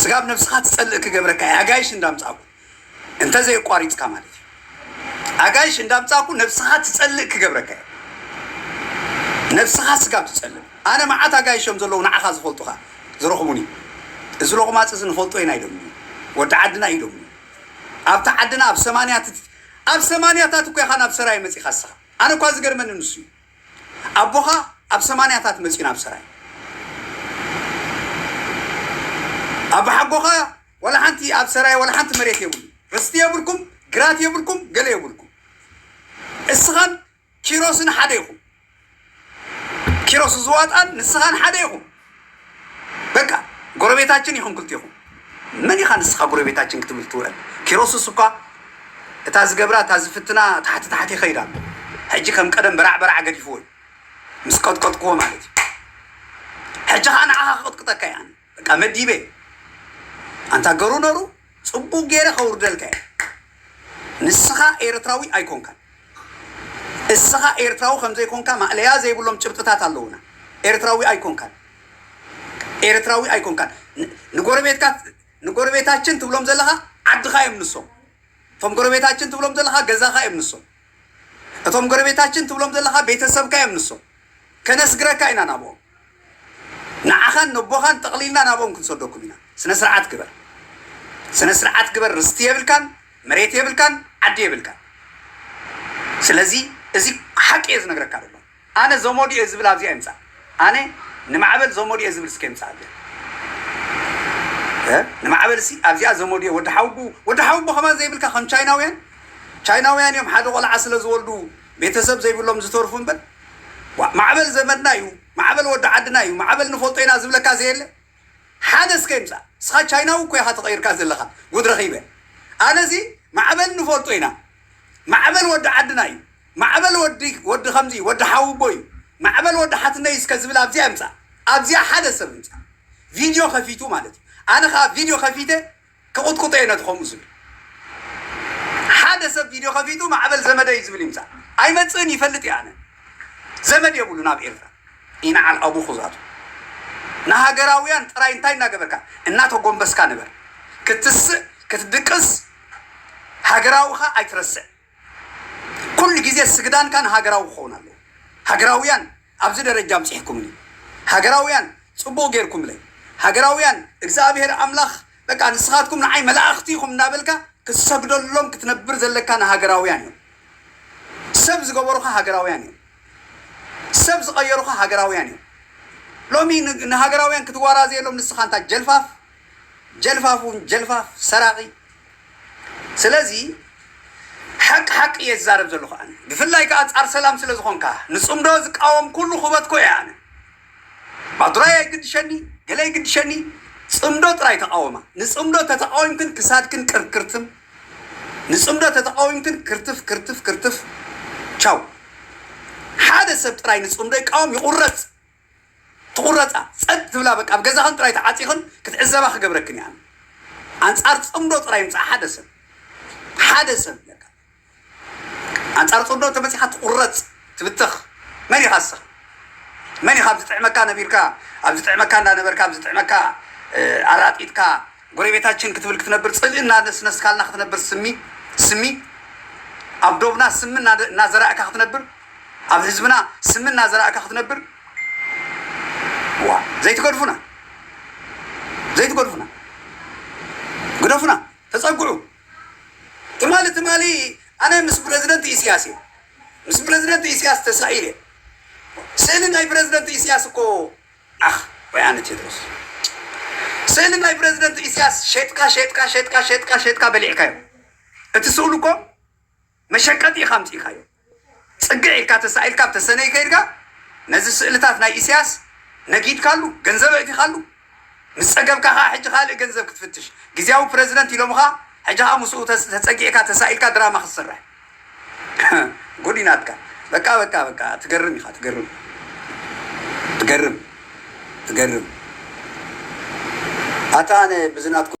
ስጋብ ነብስኻ ትጸልእ ክገብረካ እየ ኣጋይሽ እንዳምጻእኩ እንተ ዘየቋሪጽካ ማለት እዩ ኣጋይሽ እንዳምጻእኩ ነብስኻ ትጸልእ ክገብረካ እየ ነብስኻ ስጋብ ትጸልእ ኣነ መዓት ኣጋይሽ እዮም ዘለዉ ንዓኻ ዝፈልጡኻ ዝረኽቡኒ እዚ ሎቕማጽ እዚ ንፈልጦ ኢና ኢሎምኒ ወዲ ዓድና እዩ ኢሎምኒ ኣብታ ዓድና ኣብ ሰማንያ ኣብ ሰማንያታት እኮ ኢኻ ናብ ሰራየ መጺኻ ንስኻ ኣነ እኳ ዝገርመኒ ንሱ እዩ ኣቦኻ ኣብ ሰማንያታት መጺኡ ናብ ሰራይ ኣባሓጎኻ ወላ ሓንቲ ኣብ ሰራይ ወላ ሓንቲ መሬት የብሉ ርስቲ የብልኩም ግራት የብልኩም ገለ የብልኩም እስኻን ኪሮስን ሓደ ኢኹም ኪሮስ ዝዋጣን ንስኻን ሓደ ኢኹም በቃ ጎረቤታችን ይኹን ክልቴኹም መን ኢኻ ንስኻ ጎረቤታችን ክትብል ትውዕል ኪሮስስ እኳ እታ ዝገብራ እታ ዝፍትና ታሕቲ ታሕቲ ይኸይድ ኣሎ ሕጂ ከም ቀደም በራዕ በራዕ ገዲፍዎ እዩ ምስ ቀጥቀጥክዎ ማለት እዩ ሕጂ ከዓ ንዓኻ ክቕጥቅጠካ እያ በቃ መዲበ ኣንታ ገሩ ነሩ ጽቡቅ ጌረ ከውርደልካ እየ ንስኻ ኤርትራዊ ኣይኮንካን እስኻ ኤርትራዊ ከምዘይኮንካ ማእለያ ዘይብሎም ጭብጥታት ኣለውና ኤርትራዊ ኣይኮንካን ኤርትራዊ ኣይኮንካን ንጎረቤትካ ንጎረቤታችን ትብሎም ዘለኻ ዓድኻ እዮም ንሶም እቶም ጎረቤታችን ትብሎም ዘለኻ ገዛኻ እዮም ንሶም እቶም ጎረቤታችን ትብሎም ዘለኻ ቤተሰብካ እዮም ንሶም ከነስግረካ ኢና ናብኦም ንዓኻን ነቦኻን ጠቕሊልና ናብኦም ክንሰደኩም ኢና ስነስርዓት ግበር ስነስርዓት ግበር ርስቲ የብልካን መሬት የብልካን ዓዲ የብልካን ስለዚ እዚ ሓቂ እየ ዝነግረካ ዘሎ ኣነ ዘመዱ እየ ዝብል ኣብዚኣ ይምፃእ ኣነ ንማዕበል ዘመዱ እየ ዝብል እስከ ይምፃእ ኣብዚኣ እ ንማዕበል ሲ ኣብዚኣ ዘመዱ እየ ወዲ ሓውቡ ወዲ ሓውቡ ከማን ዘይብልካ ከም ቻይናውያን ቻይናውያን እዮም ሓደ ቆልዓ ስለ ዝወልዱ ቤተሰብ ዘይብሎም ዝተርፉ እምበር ዋእ ማዕበል ዘመድና እዩ ማዕበል ወዲ ዓድና እዩ ማዕበል ንፈልጦ ኢና ዝብለካ ዘየለ ሓደ እስከ ይምፃእ እስኻ ቻይናዊ እኮ ኢኻ ተቐይርካ ዘለኻ ጉድ ረኺበ ኣነዚ ማዕበል ንፈልጦ ኢና ማዕበል ወዲ ዓድና እዩ ማዕበል ወዲ ወዲ ከምዚ ወዲ ሓውቦ እዩ ማዕበል ወዲ ሓትነይ እስከ ዝብል ኣብዚኣ ይምጻእ ኣብዚኣ ሓደ ሰብ ይምጻእ ቪድዮ ከፊቱ ማለት እዩ ኣነ ከኣ ቪድዮ ከፊተ ክቁጥቁጦ እየ ነቲ ከምኡ ዝብል ሓደ ሰብ ቪድዮ ከፊቱ ማዕበል ዘመደ እዩ ዝብል ይምጻእ ኣይመጽእን ይፈልጥ እየ ኣነ ዘመድ የብሉን ኣብ ኤርትራ ይንዓል ኣቡ ኩዛቱ ንሃገራውያን ጥራይ እንታይ እናገበርካ እናተጎንበስካ ንበር ክትስእ ክትድቅስ ሃገራውኻ ኣይትረስዕ ኩሉ ግዜ ስግዳንካ ንሃገራዊ ክኸውን ኣለዎ ሃገራውያን ኣብዚ ደረጃ ኣምጺሕኩምኒ ሃገራውያን ጽቡቅ ጌርኩምለይ ሃገራውያን እግዝኣብሄር ኣምላኽ በቃ ንስኻትኩም ንዓይ መላእኽቲ ኢኹም እንዳበልካ ክትሰግደሎም ክትነብር ዘለካ ንሃገራውያን እዮም ሰብ ዝገበሩኻ ሃገራውያን እዮም ሰብ ዝቐየሩኻ ሃገራውያን እዮም ሎሚ ንሃገራውያን ክትዋራዘየሎም ንስኻ እንታ ጀልፋፍ ጀልፋፍ ውን ጀልፋፍ ሰራቂ ስለዚ ሓቂ ሓቂ እየ ዝዛረብ ዘለኩ ኣነ ብፍላይ ከኣ ኣንጻር ሰላም ስለ ዝኮንካ ንጽምዶ ዝቃወም ኩሉ ኩበት ኮ እየ ኣነ ማዱራይ ኣይግድሸኒ ገለ ኣይግድሸኒ ጽምዶ ጥራይ ተቃወማ ንጽምዶ ተተቃዊምክን ክሳድክን ቅርክርትም ንጽምዶ ተተቃዊምክን ክርትፍ ክርትፍ ክርትፍ ቻው ሓደ ሰብ ጥራይ ንጽምዶ ይቃወም ይቁረጽ ትቑረጻ ጸጥ ትብላ በቃ ኣብ ገዛኽን ጥራይ ተዓጺኽን ክትዕዘባ ክገብረክን እየ ኣነ ኣንጻር ጽምዶ ጥራይ ይምጻእ ሓደ ሰብ ሓደ ሰብ ኣንጻር ጽምዶ እንተመጺኻ ትቑረጽ ትብተኽ መን ኢኻ ንስኻ መን ኢኻ ኣብ ዝጥዕመካ ነቢርካ ኣብ ዝጥዕመካ እንዳነበርካ ኣብ ዝጥዕመካ ኣራጢጥካ ጎረቤታችን ክትብል ክትነብር ጽልኢ እናነስነስካልና ክትነብር ስሚ ስሚ ኣብ ዶብና ስሚ እናዘራእካ ክትነብር ኣብ ህዝብና ስሚ እናዘራእካ ክትነብር እዋ ዘይትገድፉና ዘይትገድፉና ግደፉና ተፀግዑ ትማሊ ትማሊ ኣነ ምስ ፕረዚደንት ኢስያስ እየ ምስ ፕረዚደንት ኢስያስ ተሳዒር እየ ስእሊ ናይ ፕረዚደንት ኢስያስ እኮ ዓኽ ወይ ኣነ ቴድሮስ ስእሊ ናይ ፕረዚደንት ኢስያስ ሸጥካ ሸጥካ ሸጥካ ሸጥካ ሸጥካ በሊዕካዮ እቲ ስእሉ እኮ መሸቀጢ ኢኻ ኣምፂእካዮ ጽግዕ ኢልካ ተሳኢልካ ኣብ ተሰነይ ከይድካ ነዚ ስእልታት ናይ ኢሰያስ ነጊድካሉ ገንዘብ ኣእቲኻሉ ምስ ጸገብካ ከኣ ሕጂ ካልእ ገንዘብ ክትፍትሽ ግዝያዊ ፕረዚደንት ኢሎምኻ ሕጂ ከኣ ምስኡ ተጸጊዕካ ተሳኢልካ ድራማ ክትሰርሕ ጉድ እዩ ናትካ በቃ በቃ በቃ ትገርም ኢኻ ትገርም ትገርም ትገርም ኣታ ኣነ ብዚ ናትኩም